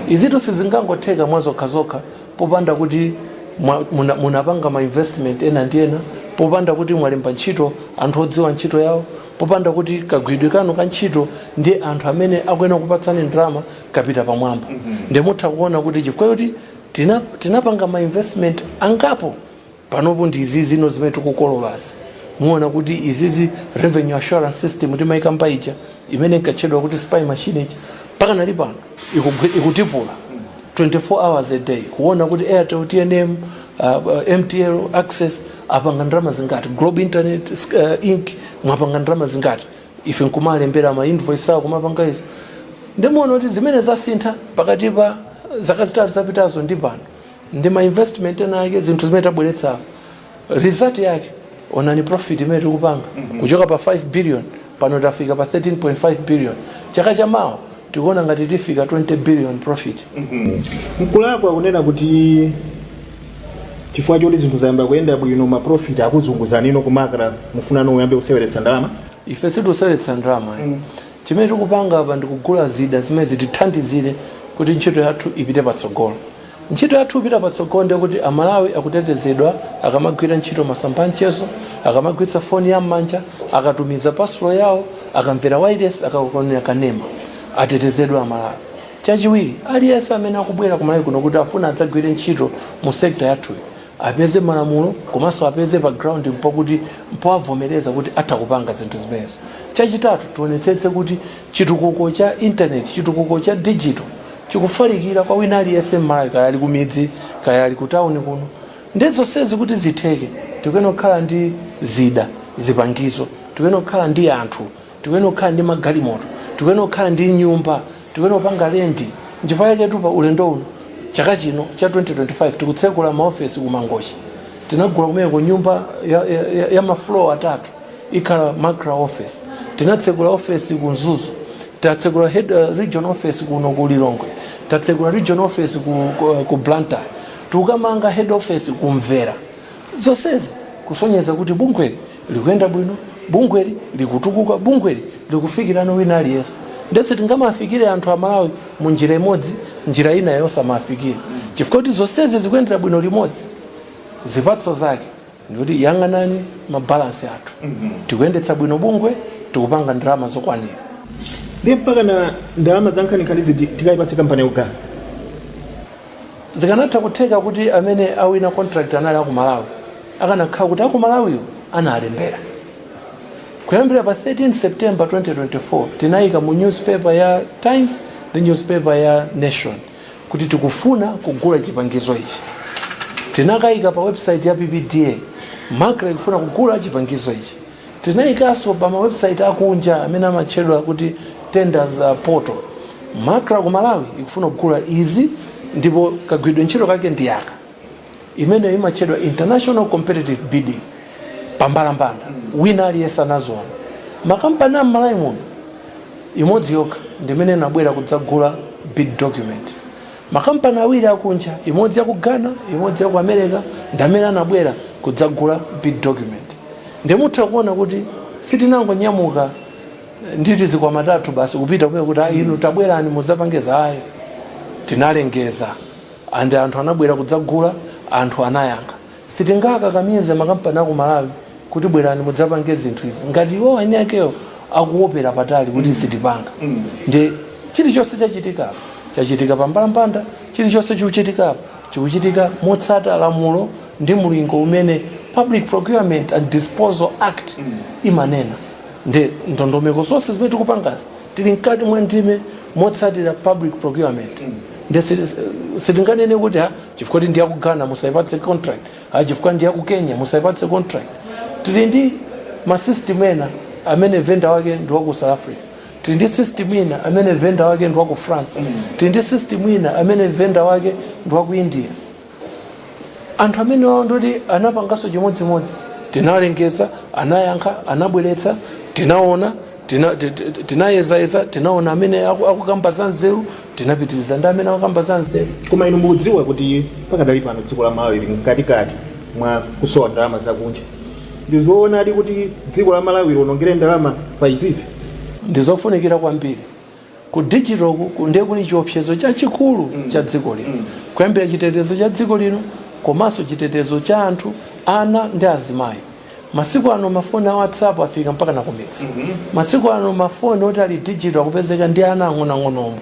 izitu sizingangotheka mwa zokha zokha popanda kuti mwa, muna, munapanga ma investment ena ndi ena popanda kuti mwalemba ntchito anthu odziwa ntchito yawo popanda kuti kagwiridwe kanu ka ntchito ndi anthu amene akuyenera kupatsani ndalama kapita pamwamba mm -hmm. nde mutha kuona kuti chifukwa choti tina, tinapanga ma investment angapo panopo ndi izizino zimene tikukololazi muona kuti izizi revenue assurance system timaikamba ija imene inkatchedwa kuti spy machine ija mpaka ndi pano ikugwi- ikutakula 24 hours a day kuona kuti airtel tnm uh, uh, mtl access apanga ndalama zingati globe internet uh, inc mwapanga ndalama zingati ife nkumalembera ma invoice awo kumapanga izo nde muona kuti zimene zasintha pakati pa zaka zitatu zapitazo ndi pano ndi ma investment ena ake zinthu zimene tabweretsa result yake onani profit imene tikupanga kuchoka pa 5 billion pano tafika pa 13.5 billion chaka cha mawa tikuona ngati tifika 20 billion profit mkulakwa kunena kuti chifukwa choti zinthu zayamba kuyenda bwino maprofit akuzunguzanino ku macra mufunano muyambe kuseweretsa ndalama ife sitikuseweretsa ndalama chimene tikupanga apa ndikugula zida zimene zitithandizire kuti ntchito yathu ipite patsogolo Ntchito yathu ikapita patsogolo ndiye kuti a Malawi akutetezedwa akamagwira ntchito masamba a mchezo, akamagwiritsa foni ya m'manja, akatumiza parcel yawo, akamvera wailesi, akamaonera kanema. Atetezedwe a Malawi. Chachiwiri, aliyense amene akubwera ku Malawi kuno kuti afuna adzagwire ntchito mu sector yathuyi, apeze malamulo komanso apeze pa ground mpoti mpowavomereza kuti atha kupanga zinthu zimenezo chachitatu tionetsetse kuti chitukuko cha intaneti chitukuko cha digital chikufalikira kwa wina aliyense mmalawi kaya ali kumidzi kaya ali kutawuni kuno ndi zonsezi kuti zitheke tikuyenera kukhala ndi zida zipangizo tikuyenera kukhala ndi anthu tikuyenera kukhala ndi magalimoto tikuyenera kukhala ndi nyumba tikuyenera kupanga lendi nchifukwa chaketu pa ulendo uno chaka chino cha 2025 tikutsegula maofesi ku mangochi tinagula kumeneko nyumba ya, ya, ya, ya mafloor atatu ikhala macra office tinatsegula ofesi ku mzuzu tatsegula head uh, region office kuno ku lilongwe tatsegula region office ku, ku, ku blantyre tikukamanga head office ku mvera zonsezi kusonyeza kuti bungweli likuyenda bwino bungweli likutukuka bungweli likufikira wina aliyense ndiye tingamafikire anthu amalawi mu njira imodzi njira ina yosamafikire chifukwa kuti zonsezi zikuyendera bwino limodzi zipatso zake ndikuti yang'anani mabalansi athu tikuyendetsa bwino bungwe tikupanga ndalama zokwanira ndi mpaka na ndalama za nkhaninkhani ziditikayipatse kampani yaku ghana zikanatha kutheka kuti amene awina contract anali akumalawi akanakhala kuti akumalawiwo analembera kuyambira pa 13 september 2024 tinayika mu newspaper ya times ndi newspaper ya nation kuti tikufuna kugula chipangizo ichi tinakayika pa website ya ppda macra ikufuna kugula chipangizo ichi Tinaikanso pa mawebusaiti akunja amene amatchedwa kuti Tenders Portal. Macra ku Malawi ikufuna kugula izi ndipo kagwiridwe ntchito kake ndi aka. Imeneyo imatchedwa International Competitive Bidding, pambalambanda, wina aliyense anaziona. Makampani a m'Malawi muno, imodzi yokha ndi imene inabwera kudzagula bid document. Makampani awiri akunja, imodzi ya ku Ghana imodzi ya ku America ndi amene anabwera kudzagula bid document. Ndiye mutha kuona kuti sitinangonyamuka ndi tizikwama tathu basi kupita kumeneko kuti ayi inu tabwerani mudzapange izi ayi. Tinalengeza and anthu anabwera kudzagula, anthu anayankha. Sitingakakamize makampani aku Malawi kuti bwerani mudzapange zinthu izi ngati iwowo eni akewo akuwopera patali kuti sitipanga. Ndiye chilichonse chachitika apa, chachitika pa mbalambanda, chilichonse chikuchitika apa chikuchitika motsata lamulo ndi mlingo umene Public Procurement and Disposal Act imanena. Ndiye ndondomeko zonse zimene tikupangazi tili mkati mwa ndime motsatira Public Procurement. Ndiye sitinganene kuti ha chifukwa kuti ndi aku Ghana musawapatse contract ah, chifukwa ndi aku Kenya musawapatse contract tili ndi masystem ena amene venda wake ndi waku South Africa tili ndi system ina amene venda wake ndi waku France tili ndi system ina amene venda wake ndi waku India anthu amenewawo nditi anapanganso chimodzimodzi tinalengeza anayankha anabweretsa tinaona Tina- ti- ti- ti- tinayezayeza tinaona amene aku- akukamba za nzeru tinapitiriza ndi amene akukamba za nzeru koma inu mukudziwa kuti pakadali pano dziko la Malawi lili mkatikati mwa kusowa ndalama zakunja ndi zoonadi kuti dziko la Malawi lionongere ndalama pa izizi ndizofunikira kwambiri ku digital ku- ku- ndi chiopsezo chachikulu cha dziko lino kuyambira chitetezo cha dziko lino komanso chitetezo cha anthu ana ndi azimayi masiku ano mafoni a WhatsApp afika mpaka nakumidzi masiku ano mafoni oti ali digital akupezeka ndi ana ang'onoang'ono omwe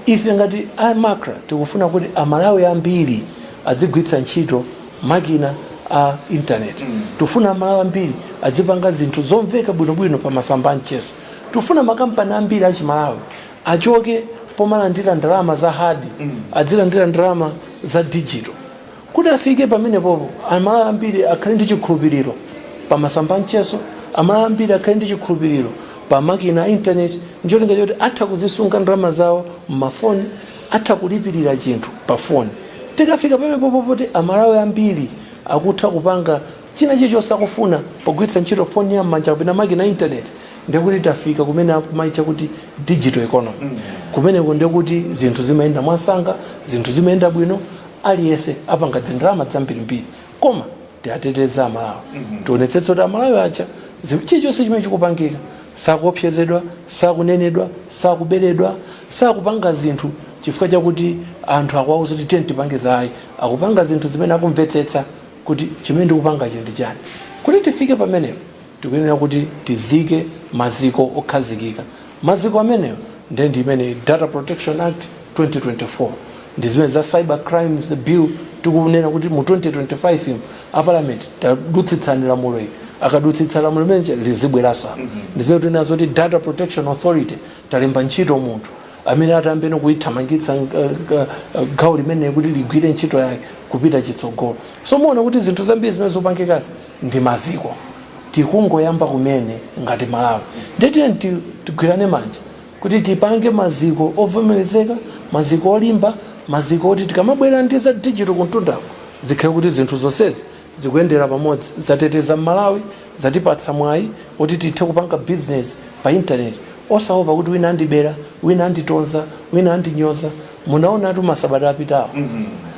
ife ngati a MACRA tikufuna kuti Amalawi ambiri adzigwiritsa ntchito makina a intaneti tikufuna Amalawi ambiri adzipanga zinthu zomveka bwinobwino pa masamba a mchezo Tufuna makampani ambiri a chimalawi achoke pomalandira ndalama za hard adzilandira ndalama za digital kuti afike pamenepopo Amalawi ambiri akhale ndi chikhulupiriro pa masamba amchezo Amalawi ambiri akhale ndi chikhulupiriro pa makina a intaneti ncholinga choti atha kuzisunga ndalama zawo mmafoni atha kulipirira chinthu pa foni tikafika pamenepopo poti Amalawi ambiri akutha kupanga china chilichonse akufuna pogwiritsa ntchito foni ya m'manja kapena makina a intaneti ndekuti tafika kumene akumaitcha kuti digital economy kumeneko ndekuti zinthu zimayenda mwansanga zinthu zimayenda bwino aliyense apanga dzindalama zambirimbiri koma tiwateteze Amalawi tionetsetse kuti Amalawi aja zi- chilichonse chimene chikupangika sakuopsezedwa sakunenedwa sakuberedwa sakupanga zinthu chifukwa chakuti anthu akuwauza kuti tiyeni tipange zayi akupanga zinthu zimene akumvetsetsa kuti chimene ndikupangacho ndi chani. Kuti tifike pamenepo tikuyenera kuti tizike maziko okhazikika. Maziko amenewo nde ndi imene Data Protection Act 2024, ndi zimene za Cyber Crimes Bill tikunena kuti mu 2025 mu, a Parliament tadutsitsani lamulo ili. Akadutsitsa lamulo limeneli lizabweranso apa. Ndi zimene tikunena zoti Data Protection Authority talemba ntchito munthu. amene atayambe kulithamangitsa gawo limeneli kuti ligwire ntchito yake kupita chitsogolo so muwona kuti zinthu zambiri zimene zikupangikazi ndi maziko tikungoyamba kumene ngati Malawi ndiye tiyeni ti- tigwirane manja kuti tipange maziko ovomerezeka maziko olimba maziko oti tikamabwera ndi za digital kumtundako zikhale kuti zinthu zonsezi zikuyendera pamodzi zateteza Mmalawi, zatipatsa mwayi oti tithe kupanga bizinesi pa intaneti osaopa kuti wina andibera, wina anditonza, wina andinyoza. Munaonatu masabata apitawo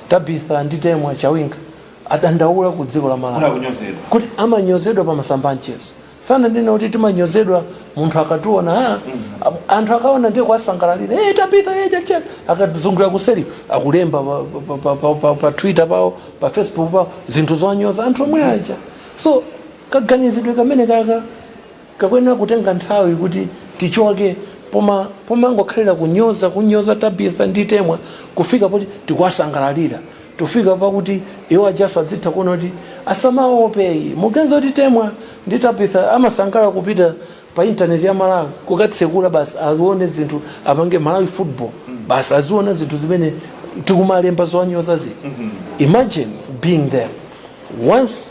Tabitha ndi Temwa Chawinga adandaula ku dziko la Malawi kuti amanyozedwa pa masamba a mchezo. sananena kuti timanyozedwa munthu akationa ah, am- anthu akaona ndiye kuwasangalalira hey, Tabitha hey, chachani akazungulira kuseri akulemba pa, pa, pa, pa, pa, pa twitter pawo pa facebook pawo zinthu zonyoza anthu omwe aja so kaganizidwe kameneka kakuyenera kutenga nthawi kuti tichoke poma pomangokhalira kunyoza kunyoza tabitha ndi temwa kufika poti tikuwasangalalira Tifika pakuti iwo ajanso adzitha kuona kuti asamaope ayi. Muganiza kuti Temwa ndi Tabitha amasangalala kupita pa internet a Malawi kukatsekula basi azione zinthu apange Malawi football basi aziona zinthu zimene tikumalemba zowanyoza zija. Imagine being there once.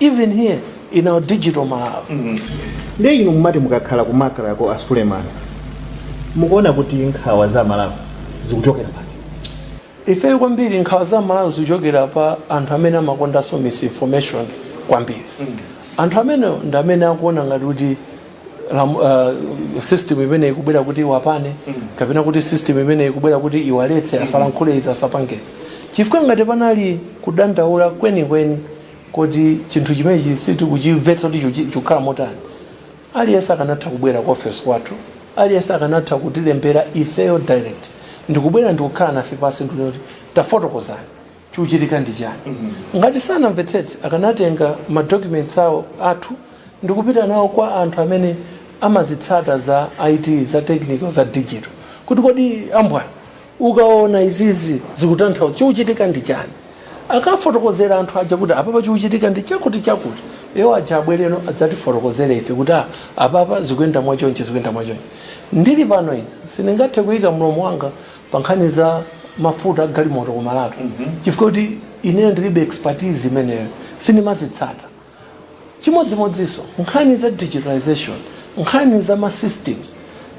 even here in our digital Malawi. nde inu mumati mukakhala ku MACRA ko a Suleman mukuona kuti nkhawa za malawi zikuchokera pati Ifeyo kwambiri nkhawa za Malawi zikuchokera pa anthu amene amakondanso misinformation kwambiri. Anthu amenewa ndi amene akuona ngati kuti lam- uh, system imene ikubwera kuti iwapane kapena kuti system imene ikubwera kuti iwaletse asalankhule izi asapange izi chifukwa ngati panali kudandaula kwenikweni kodi chinthu chimenechi sitikuchimvetsa kuti chiku- chikukhala motani aliyense akanatha kubwera ku ofesi kwathu aliyense akanatha kutilembera ifeyo direct ndikubwera ndikukhala nafe pansi ndikuti tafotokozani chikuchitika ndi chani ngati sanamvetsetse akanatenga madocuments awo athu ndikupita nawo kwa anthu amene amazitsata za it za technical za digital kuti kodi abwana Mukaona izizi zikutanthauza chikuchitika ndi chani? Akafotokozera anthu aja kuti apapa chikuchitika ndi chakuti chakuti, iwo aja abwereno adzatifotokozere ife kuti a apapa zikuyenda mwa chonchi zikuyenda mwa chonchi. Ndili pano ine sindingathe kuyika mlomo wanga pa nkhani za mafuta a galimoto ku Malawi chifukwa choti ineyo ndilibe expertise imeneyo sindimazitsata. Chimodzimodzinso nkhani za digitalisation, nkhani za ma systems,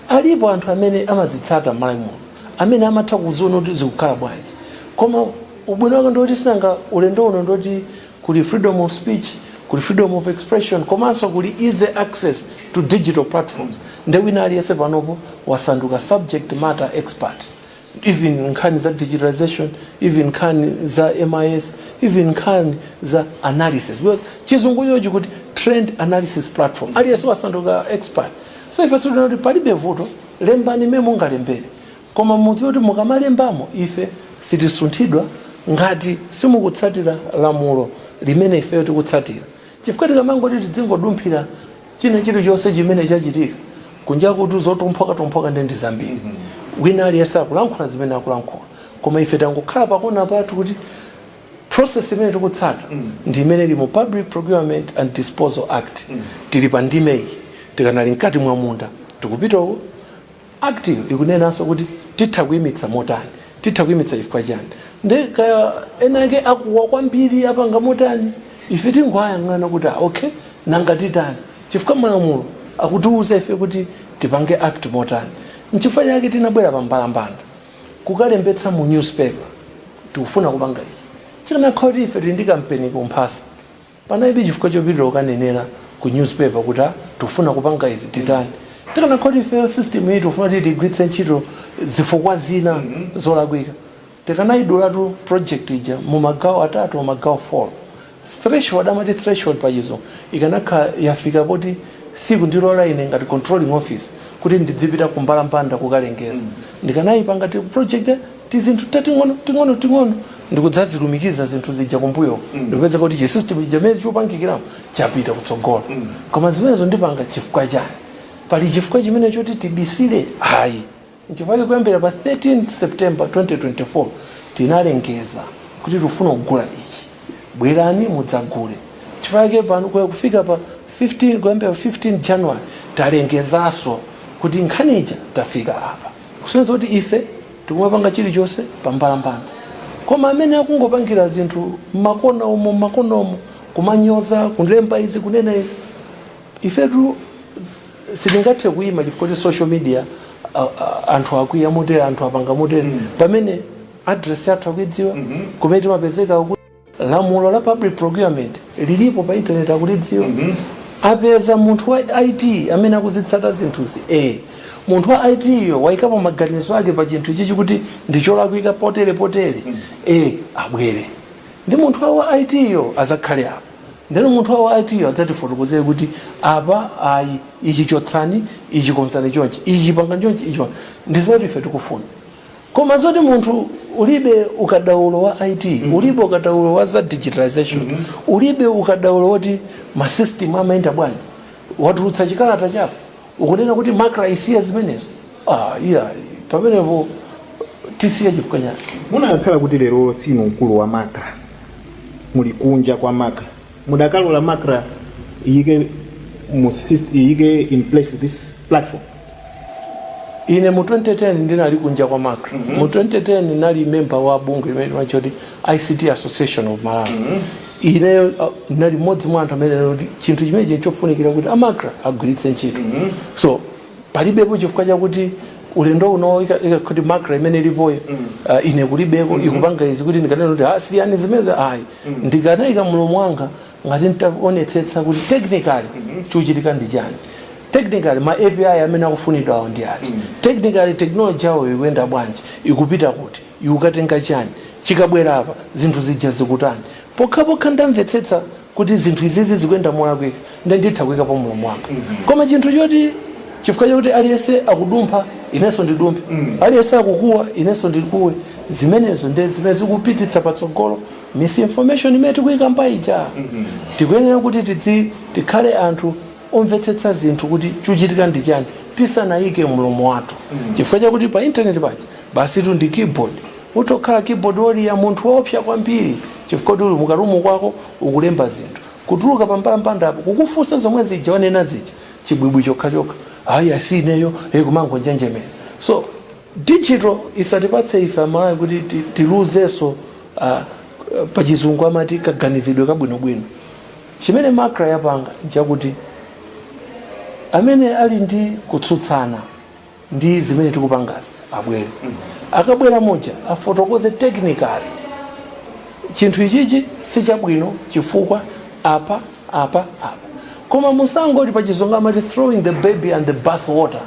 alipo anthu amene amazitsata m'Malawi muno amene amatha kuziona kuti zikukhala bwanji. Koma ubwino wake ndi woti sinanga ulendo uno ndi woti kuli freedom of speech, kuli freedom of expression komanso kuli easy access to digital platforms nde wina aliyense panopo wasanduka subject matter expert. even nkhani za digitalization even nkhani za mis even nkhani za analysis because chizungu chochikuti trend analysis platform aliyense wasanduka expert so ife tikuona kuti palibe vuto lembani mmene mungalembere koma mudziwe kuti mukamalembamo ife sitisunthidwa ngati simukutsatira lamulo limene ifeyo tikutsatira chifukwa tikamangoti tidzingodumphira china chilichonse chimene chachitika kunjakutu zophokosaphokosa ndi ndi zambiri wina aliyense akulankhula zimene akulankhula koma ife tangokhala pakona pathu kuti process imene tikutsata ndi imene ili mu public procurement and disposal act tili pa ndime iyi tikanali mkati mwa munda tikupita uko Act'yo ikunenanso kuti titha kuimitsa motani? Titha kuimitsa chifukwa chiyani? Nde kaya ena ake akuwa kwambiri apanga motani, ife tingoayang'ana kuti ah okay, nanga titani? Chifukwa malamulo akutiuza ife kuti tipange act motani. Nchifukwa chake tinabwera pa mbalambanda kukalembetsa mu newspaper, tikufuna kupanga ichi. Chikanakhala kuti ife tili ndi kampeni kumphasa, Panalibe chifukwa chopitira kukanenera ku newspaper kuti a tikufuna kupanga izi titani. Tikanakhala kuti ifeyo system iyi tikufuna kuti tiigwiritse ntchito zifukwa zina zolakwika, tikanaidulatu project ija mu magawo atatu or magawo 4. Threshold, amati threshold pachizungu ikanakhala yafika poti sikundilola ine ngati controlling officer kuti ndidzipita kumbalambanda kukalengeza, ndikanaipangatu project. tizinthu tating'ono ting'ono ting'ono ndikudzazilumikiza zinthu zija kumbuyo ndikupeza kuti chisystem chija mmene chopangikiramo chapita kutsogolo koma zimenezo ndipanga chifukwa chani pali chifukwa chimene choti tibisire ayi nchifukwa chake kuyambira pa 13 september 2024 tinalengeza kuti tikufuna kugula ichi bwerani mudzagule chifukwa chake pano kuya kufika pa 15 kuyambira pa 15 january talengezaso kuti nkhani ija tafika apa kusonyeza kuti ife tikumapanga chilichonse pambalambanda koma amene akungopangira zinthu mmakona umo mmakona umo kumanyoza kulemba izi kunena izi ifetu sitingathe kuyima chifukwa kuti social media a- a- anthu akwiya motere anthu apanga motere pamene address yathu akuidziwa kumene timapezeka Lamulo la public procurement lilipo pa internet akulidziwa. Mm -hmm. Apeza munthu wa IT amene akuzitsata zinthuzi. Eh. Munthu wa IT yo waikapo maganizo ake pa chinthu chimenechi kuti ndicholakwika potere potere. Mm -hmm. Eh, abwere. Ndi munthu wa IT yo azakhale apo. Ndeno munthu wa IT yo adzatifotokozere kuti apa ayi ichi chotsani, ichi konzani chonchi, ichi pangani chonchi, ichi. Ndizimene ife tikufuna. Koma zoti munthu ulibe ukadaulo wa IT, ulibe ukadaulo wa za digitalisation, ulibe ukadaulo woti ma system amayenda bwanji, watulutsa chikalata chako ukunena kuti Macra isiye zimenezo? Aaa iyayi, pamenepo tisiye chifukwa chani? Mukanakhala kuti lero siinu mkulu wa Macra, muli kunja kwa Macra, mudakalola Macra iyike mu syst, iyike in place this platform? ine mu 2010 ndinali kunja kwa macra mm -hmm. mu 2010 ndinali memba wa bungwe limene limatchedwa ict association of malawi mm -hmm. ineyo uh, ndinali mmodzi mwa anthu amene kuti chinthu chimenechi nchofunikira kuti amacra agwiritse ntchito mm -hmm. so palibepo chifukwa chakuti ulendo uno kuti macra imene ilipoyo mm -hmm. uh, ine kulibeko mm -hmm. ikupanga izi kuti ndikananena kuti aa siyani ah, zimenezo ayi mm -hmm. ndikanaika mlomo wanga ngati ntaonetsetsa kuti technically chikuchitika ndi chani technically ma api amene akufunidwawo ndi ati technically technology yawo ikuyenda bwanji ikupita kuti ikukatenga chani chikabwera apa zinthu zija zikutani pokhapokha ndamvetsetsa kuti zinthu izizi zikuyenda molakwika nde nditha kuyikapo mlomo wanga koma chinthu choti chifukwa chakuti aliyense akudumpha inenso ndidumphe aliyense akukuwa inenso ndikuwe zimenezo nde zimene zikupititsa patsogolo misinformation imene tikuyikamba ija tikuyenera kuti tidzi tikhale anthu omvetsetsa zinthu kuti chikuchitika ndi chani tisanayike mlomo wathu chifukwa chakuti pa internet paja basi tu ndi keyboard uti ukhale keyboard warrior munthu woopsa kwambiri chifukwa kuti uli mukarumu kwako ukulemba zinthu kutuluka pambalambandapo kukufunsa zomwe zija wanena zija chibwibwi chokhachokha ayi aa sineyo e kumangonjenjemera so Digital isatipatse ife amalawi kuti tiluzenso aa pachizungu amati kaganizidwe kabwinobwino. Chimene macra yapanga nchakuti amene ali ndi kutsutsana ndi zimene tikupangazi abwere. Akabwera muja afotokoze technically chinthu ichichi sichabwino chifukwa apa, apa, apa. Koma musangoti pachizungu amati throwing the baby and the bathwater.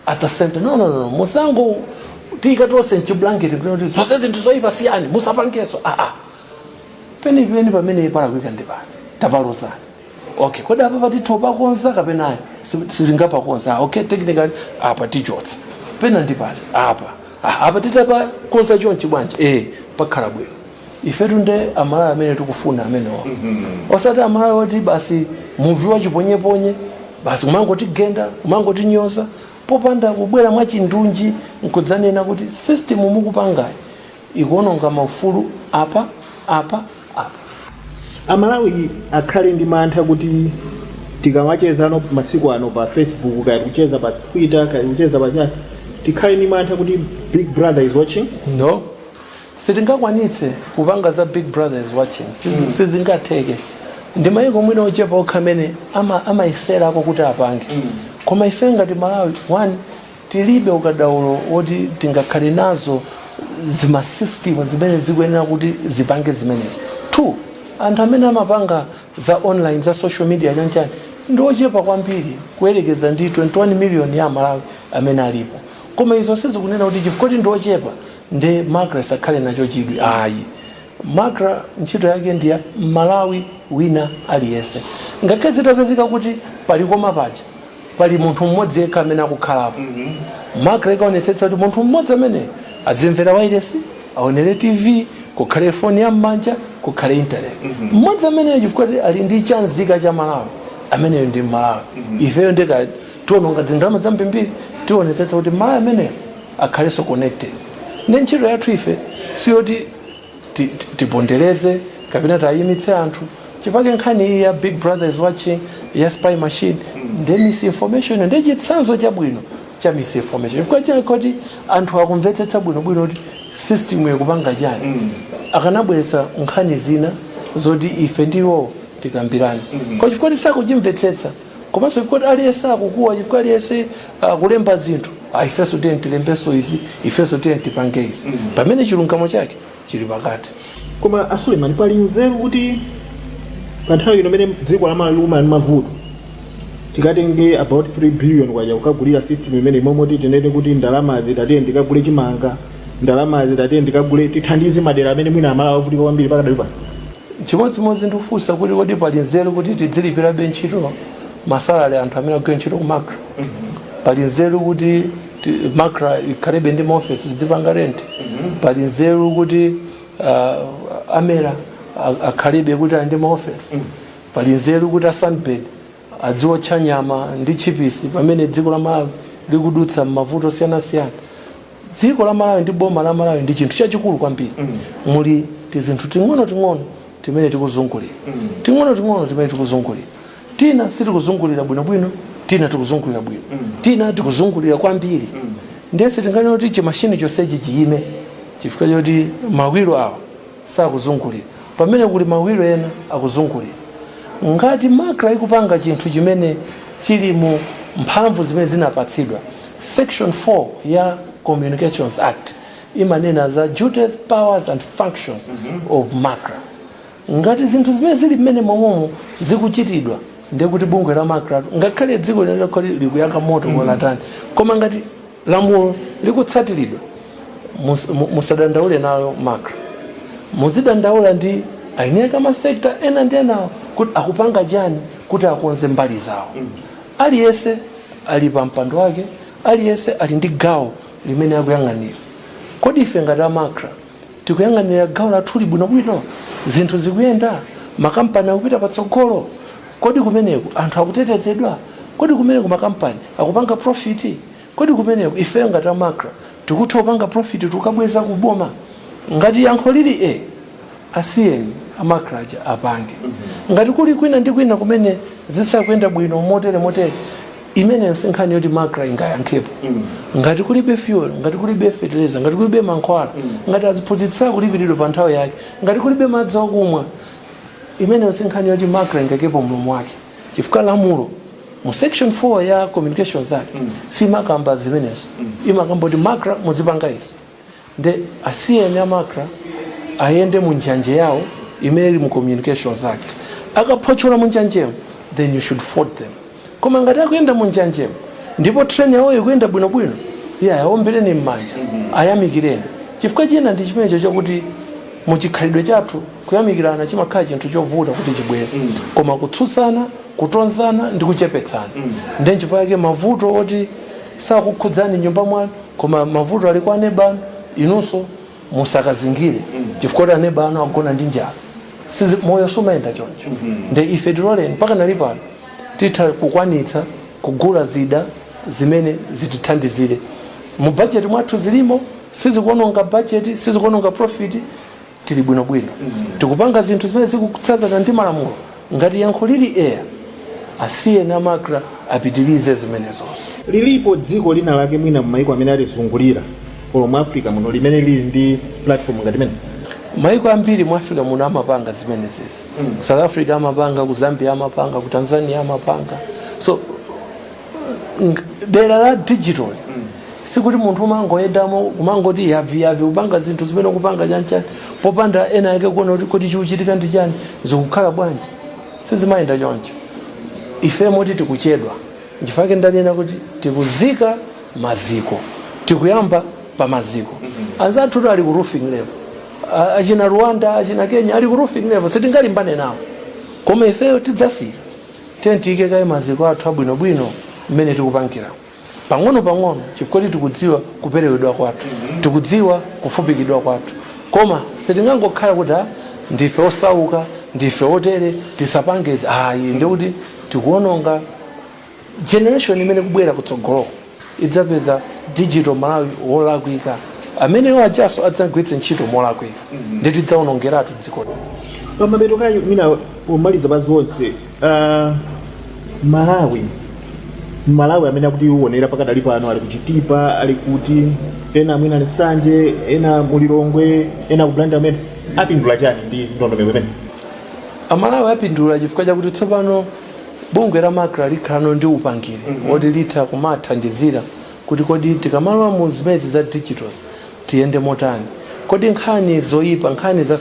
at the same time no no no musangotiika tonse mchiblanketi kuti zonse zinthu zoyipa siyani musapangenso aa ah, ah. penipeni pamene palakwika ndi pano tapalozani okay kodi apa apa titha pakonza kapena ayi sitingapakonze ah, okay technically apa tichotsa pena ndi pali apa apa titapakonza chonchi bwanji eh pakhala bwino ifetu nde amalawi amene tikufuna amenewo osati amalawi oti basi muvi wachiponyeponye basi kumangotigenda kumangotinyoza popanda kubwera mwachindunji nkudzanena kuti system mukupangayi ikuononga maufulu apa apa apa amalawi akhale ndi mantha kuti tikamachezano masiku ano pa facebook kaya kucheza pa twitter kaya kucheza pa chani tikhale ndi mantha kuti big brother is watching no Sitingakwanitse kupanga za big brother is watching sizingatheke ndi maiko mwina ochepa okha amene amayeserako kuti apange koma ifeyo ngati Amalawi one tilibe ukadaulo woti tingakhale nazo zima system zimene zikuyenera kuti zipange zimenezo two anthu amene amapanga za online za social media chanchani ndi ochepa kwambiri kuyerekeza ndi 21 million ya Amalawi amene alipo koma izo sizikunena kuti chifukwa kuti ndi ochepa nde macra isakhale nacho chidwi ayi macra ntchito yake ndiya mmalawi wina aliyense ngakhale zitapezeka kuti pa likoma paja pali munthu mmodzi yekha amene akukhalapo macra ikaonetsetsa kuti munthu mmodzi ameneyo azimvera wailesi aonere tv kukhale foni ya mmanja kukhale internet mmodzi ameneyo chifukwa kuti ali ndi chanzika cha malawi ameneyo ndi mmalawi ifeyo ndi ka tiononga dzindalama dzambirimbiri tionetsetsa kuti mmalawi ameneyo akhalenso connected nde ntchito yathu ife siyoti ti- ti- tipondereze kapena tayimitse anthu nchifukwa chake nkhani iyi ya big brother is watching ya spy machine ndi misinformation ndi chitsanzo chabwino cha misinformation chifukwa chake kuti anthu akanamvetsetsa bwinobwino kuti system ikupanga chani akanabweretsa nkhani zina zoti ife ndi iwo tikambirane koma chifukwa sitikuchimvetsetsa komanso chifukwa aliyense akukuwa chifukwa aliyense akulemba uh, zinthu ah, ifenso tiyeni tilembenso izi ifenso tiyeni tipange izi mm. pamene chilungamo chake chili pakati koma asuleman pali nzeru kuti pa nthawi ino imene dziko lamalawi lili ndi mavuto tikatenge about 3 billion kwacha kukagulira system imeneyi mmalo moti tinene kuti ndalama zimenezi tiyeni tikagule chimanga ndalama zimenezi tiyeni tikagule tithandize madera amene mwina amalawi avutika kwambiri pakadali pano Chimodzimodzi ndikufunsa kuti kodi pali nzeru kuti tidzilipirabe ntchito masalary anthu amene akugwira ntchito ku macra pali nzeru kuti ti- macra ikhalebe ndi maofesi tidzipanga renti pali nzeru kuti uh, a mera a- akhalebe kuti ali ndi maofesi pali nzeru kuti a sunbird adziotcha nyama ndi tchipisi pamene dziko la Malawi likudutsa m'mavuto osiyanasiyana dziko la Malawi ndi boma la Malawi ndi chinthu chachikulu kwambiri muli tizinthu ting'ono ting'ono timene tikuzungulira ting'ono ting'ono timene tikuzungulira tina sitikuzungulira bwinobwino tina tikuzungulira bwino tina tikuzungulira kwambiri ndiye sitinganene kuti chimashini chonsechi chiyime chifukwa choti mawiro awa sakuzungulira pamene kuli mawiro ena akuzungulira. Ngati MACRA ikupanga chinthu chimene chili mu mphamvu zimene zinapatsidwa, section 4 ya Communications Act imanena za duties, powers and functions of MACRA. Ngati zinthu zimene zili mmenemomo zikuchitidwa ndiye kuti bungwe la MACRA ngakhale dziko lino likhale likuyaka moto kaya kotani koma ngati Lamulo likutsatiridwa musadandaule nalo MACRA muzidandaula ndi eni ake a ma sector ena ndi enawo kuti akupanga chani kuti akonze mbali zawo. Aliyense ali pa mpando wake, aliyense ali ndi gawo limene akuyang'anira. Kodi ife ngati a MACRA Tikuyang'anira gawo lathuli bwinobwino? Zinthu zikuyenda? Makampani akupita patsogolo? Kodi kumeneko anthu akutetezedwa? Kodi kumeneko makampani akupanga profiti? Kodi kumeneko ifeyo ngati a MACRA tikutha kupanga profiti tikukabweza ku boma? Ngati yankho lili ee, asiyeni a MACRA aja apange. Ngati kuli kwina ndi kwina kumene zisakuyenda bwino motere motere, imeneyo si nkhani yoti MACRA ingayankhepo ngati kulibe fuel ngati kulibe fertilizer ngati kulibe mankhwala ngati aziphunzitsi sakulipiridwa pa nthawi yake ngati kulibe madzi okumwa imeneyo si nkhani yoti MACRA ingaikepo mlomo wake chifukwa lamulo mu section 4 ya communications act siimakamba zimenezo imakamba kuti MACRA muzipanga izi Nde asiyeni a MACRA ayende mu njanje yawo imene ili mu communications act. Akaphotchola mu njanjemo then you should fault them. Koma ngati akuyenda mu njanjemo ndipo train yawo ikuyenda bwino bwino, iyayi aombereni mmanja, ayamikireni. Chifukwa china ndi chimenecho chakuti mu chikhalidwe chathu kuyamikirana chimakhala chinthu chovuta kuti chibwere. Koma kutsutsana, kutonzana ndi kuchepetsana. Nde nchifukwa chake mavuto oti sakukhudzani nyumba mwanu koma mavuto ali kwa aneba anu inunso musakazingire chifukwa choti aneba anu agona ndi njala Si, moyo sumayenda choncho nde ife tiloleni mpata ulipo pano titha kukwanitsa kugula zida zimene zitithandizire mu bajeti mwathu zilimo sizikuononga bajeti sizikuononga profiti tili bwinobwino tikupanga zinthu zimene zikutsatana ndi malamulo ngati yankho lili eya asiyeni a MACRA apitirize zimenezozo lilipo dziko lina lake mwina m'maiko amene atizungulira olo mu africa muno limene lili ndi platform ngati imene maiko ambiri mu africa muno amapanga zimenezezi ku south africa amapanga ku zambia amapanga ku tanzania amapanga so dera la digital sikuti munthu umangoyendamo kumangoti yaviyavi kupanga zinthu zimene kupanga chanchani popanda ena ake kuona kuti kuti chikuchitika ndi chani zikukhala bwanji sizimayenda choncho ife moti tikuchedwa nchifukwa ndanena kuti tikuzika maziko tikuyamba pa maziko anzathu tu ali ku roofing level achina rwanda achina kenya ali ku roofing level sitingalimbane nawo koma ifeyo tidzafika Tiyeni tiike kaye maziko athu abwinobwino mmene tikupangiramu, pang'onopang'ono, chifukwa choti tikudziwa kuperewedwa kwathu, tikudziwa kufupikidwa kwathu. Koma sitingangokhala kuti, Ah, ndife osauka, ndife otere, tisapange izi. Ayi, ndiye kuti tikuwononga generation imene ikubwera kutsogoloku. idzapeza digital malawi wolakwika ameneyo ajanso adzagwiritse ntchito molakwika ndi tidzaonongeratu dziko pamapeto kaye mwina pomaliza pa zonse ah, malawi malawi amene akutionera pakadali pano ali kuchitipa ali kuti ena mwina ali ku nsanje ena mulilongwe ena kublantyre amene apindula chani ndi ndondomeko imene amalawi apindula chifukwa chakuti tsopano Bungwe la macra likhalano ndi upangiri woti litha kumathandizira kuti kodi tikamalowa mu zimenezi za digitals tiyende motani, kodi nkhani zoipa, nkhani za,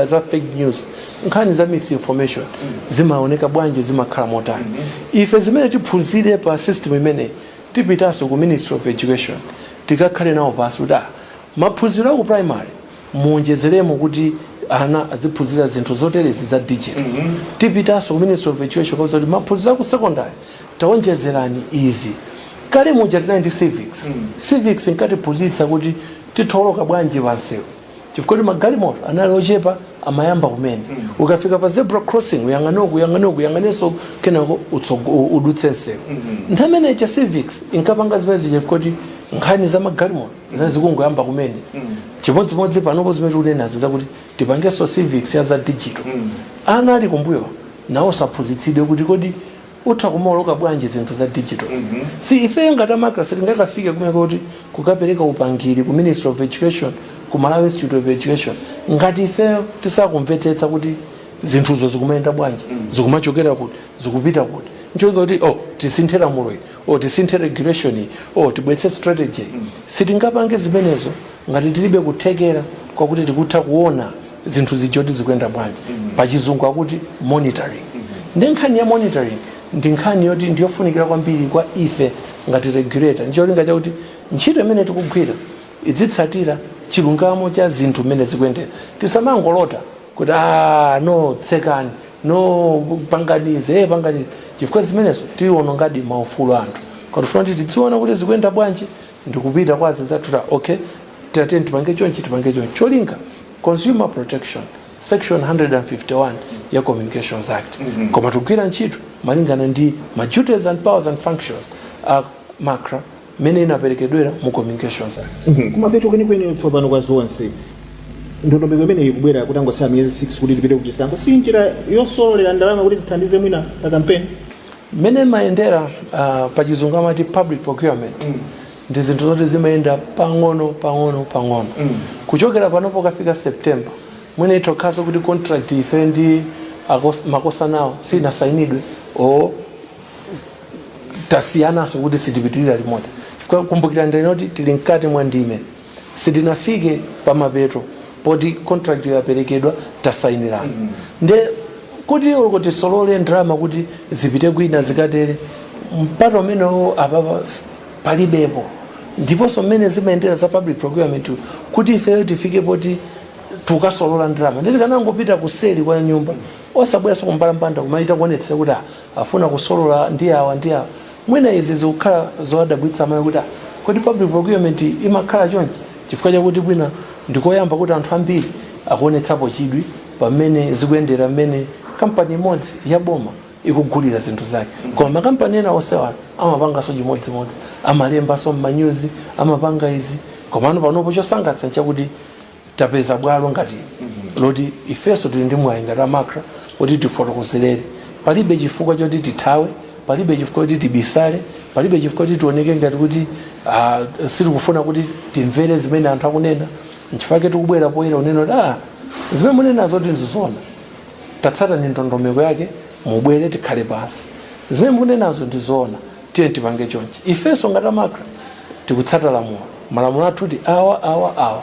za fake news, nkhani za misinformation zimaoneka bwanji, zimakhala motani. Ife zimene tiphunzire pa system imeneyi tipitanso ku Ministry of Education tikakhale nawo pansi kuti ah, maphunziro a ku primary, muonjezeremo kuti ana adziphunzira zinthu zoterezi za digital tipitanso ku ministry of education kukawauza kuti maphunziro aku secondary taonjezerani izi kale muja tinali ndi civics civics inkatiphunzitsa kuti titha oloka bwanji pansewu chifukwa kuti magalimoto anali ochepa amayamba kumene ukafika pa zebra crossing uyang'ane uku uyang'ane uku uyang'anenso kenako utsogo- u- udutse nsewu nthawi imene ija civics inkapanga zimene zija chifukwa kuti nkhani za magalimoto zinali zikungoyamba kumene chimodzimodzi panopo zimene tikunenazi zakuti tipangenso civics ya za digital ana ali kumbuyo nawonso aphunzitsidwe kuti kodi utha kumaoloka bwanji zinthu za digital ndiye ifeyo ngati a macra sitingakafike kumeneko kuti kukapereka upangiri ku ministry of education ku malawi institute of education ngati ifeyo tisakumvetsetsa kuti zinthuzo zikumayenda bwanji zikumachokera kuti zikupita kuti ncholinga kuti oh tisinthe lamulo ili or tisinthe regulation or tibwetse strategy sitingapange zimenezo ngati tilibe kuthekera kwakuti tikutha kuona zinthu zija kuti zikuyenda bwanji pachizungu akuti monitoring ndiye nkhani ya monitoring ndi nkhani yoti ndiyofunikira kwambiri kwa ife ngati regulator ndicholinga chakuti ntchito imene tikugwira idzitsatira chilungamo cha zinthu mmene zikuyendera tisamangolota kuti ah no tsekani no pangani izi eh, pangani izi. chifukwa zimenezo tiwonongadi maufulu anthu koma tifuna kuti tidziona kuti zikuyenda bwanji ndikupita kwa azinzathu ta okay tiyeni tipange chonchi tipange chonchi cholinga consumer protection section 151 ya communications act koma tikugwira ntchito malingana ndi ma duties and powers and functions a macra mmene inaperekedwera mu Communications Act. Mhm. Kumapeto kwenikweni tsopano kwa zonse, ndondomeko imeneyi ikubwera kutangosala miyezi 6 kuti tipite kuchisankho, si njira yosololera ndalama kuti zithandize mwina pa kampeni? Mmene imayendera uh, pa chizungu amati public procurement mm. ndi zinthu zoti zimayenda pang'ono pang'ono pang'ono mm. kuchokera pano pokafika September mwina itha kukhalaso kuti contract ife ndi akosanawo sinasainidwe o tasiyananso kuti sitipitirira limodzi Kwa- kumbukirani ndinati tili mkati mwa ndime sitinafike pa mapeto poti contract yaperekedwa tasayinirana nde kuti uko tisolole ndalama kuti zipite kwina zikathere mpata umenewo apapa s- palibepo ndiponso mmene zimayendera za public procurement kuti ifeyo tifike poti tikasolola ndalama nditikanangopita kuseli kwa nyumba osabweranso kumbalambanda kumachita kuonetsa kuti ah, afuna kusolola ndi awa ndi awa. Mwina izi zikukhala zowadabwitsa aMalawi kuti ah kodi public procurement imakhala chonchi? Chifukwa chakuti mwina ndi koyamba kuti anthu ambiri akuonetsapo chidwi pa mmene zikuyendera mmene kampani imodzi ya boma ikugulira zinthu zake. Koma makampani ena onsewa amapanganso chimodzimodzi, amalembanso m'manyuzi, amapanga izi. Komano panopo chosangalatsa n'chakuti tapeza bwalo ngati ili loti ifenso tili ndi mwayi ngati a macra oti tifotokozerere palibe chifukwa choti tithawe palibe chifukwa choti tibisale palibe chifukwa choti tioneke ngati kuti ah, sitikufuna kuti timvere zimene anthu akunena nchifukwa chake tikubwera poyera kunena kuti ah, zimene munenazo ngati ndi zoona tatsatani ndondomeko yake mubwere tikhale pansi zimene mukunenazo ndi zoona Tiyeni tipange chonchi. Ifenso ngati a macra tikutsata lamulo. Malamulo athu ndi awa, awa, awa.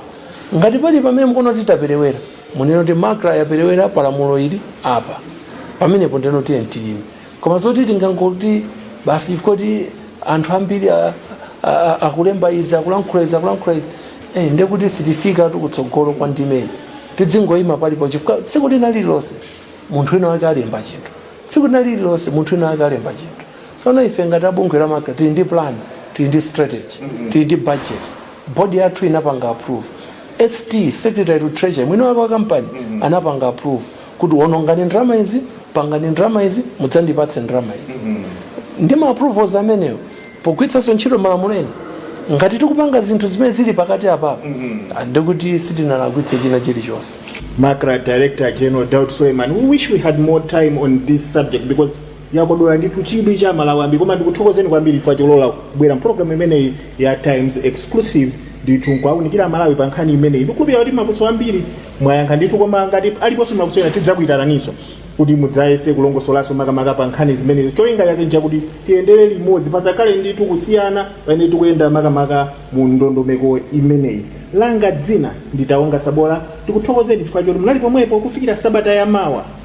Ngati pali pamene mukuona kuti taperewera, munene kuti macra yaperewera pa lamulo ili apa. Pamenepo ndeno tiyeni tiyime. Koma zoti tingoti basi chifukwa kuti anthu ambiri a- a- a- akulemba izi akulankhula izi akulankhula izi eh, ndiye kuti sitifikatu kutsogolo kwa ndime tidzingoyima palipose chifukwa tsiku lina lililonse munthu wina wake alemba chinthu tsiku lina lililonse munthu wina wake alemba chinthu Tsono ife ngati a bungwe la MACRA tili ndi plan, tili ndi strategy, tili ndi budget, board yathu inapanga approve, ST, secretary to treasury, mwini wake wa company anapanga approve kuti wonongani ndalama izi, pangani ndalama izi, mudzandipatse ndalama izi. Ndi ma approvals amenewo pogwiritsanso ntchito malamulo ena, ngati tikupanga zinthu zimene zili pakati apapa ndiye kuti sitinalakwitse china chilichonse. MACRA Director General Daud Suleiman, we wish we had more time on this subject because Yakodola ndithu chidwi cha amalawi ambiri koma ndikuthokozeni kwambiri chifukwa cholola kubwera mupologalamu imeneyi ya Times Exclusive ndithu nkuwaunikira amalawi pa nkhani imeneyi. Ndikukhulupirira kuti mafunso ambiri mwayankha ndithu koma ngati aliponso mafunso ena tidzakuitananinso kuti mudzayese kulongosolanso makamaka pa nkhani zimenezi. Cholinga kuti tiyendere limodzi pasakhale ndithu kusiyana pamene tikuyenda makamaka mu ndondomeko imeneyi. Langa dzina ndi Taonga Sabola. Ndikuthokozeni chifukwa choti munali pomwepo kufikira sabata ya mawa.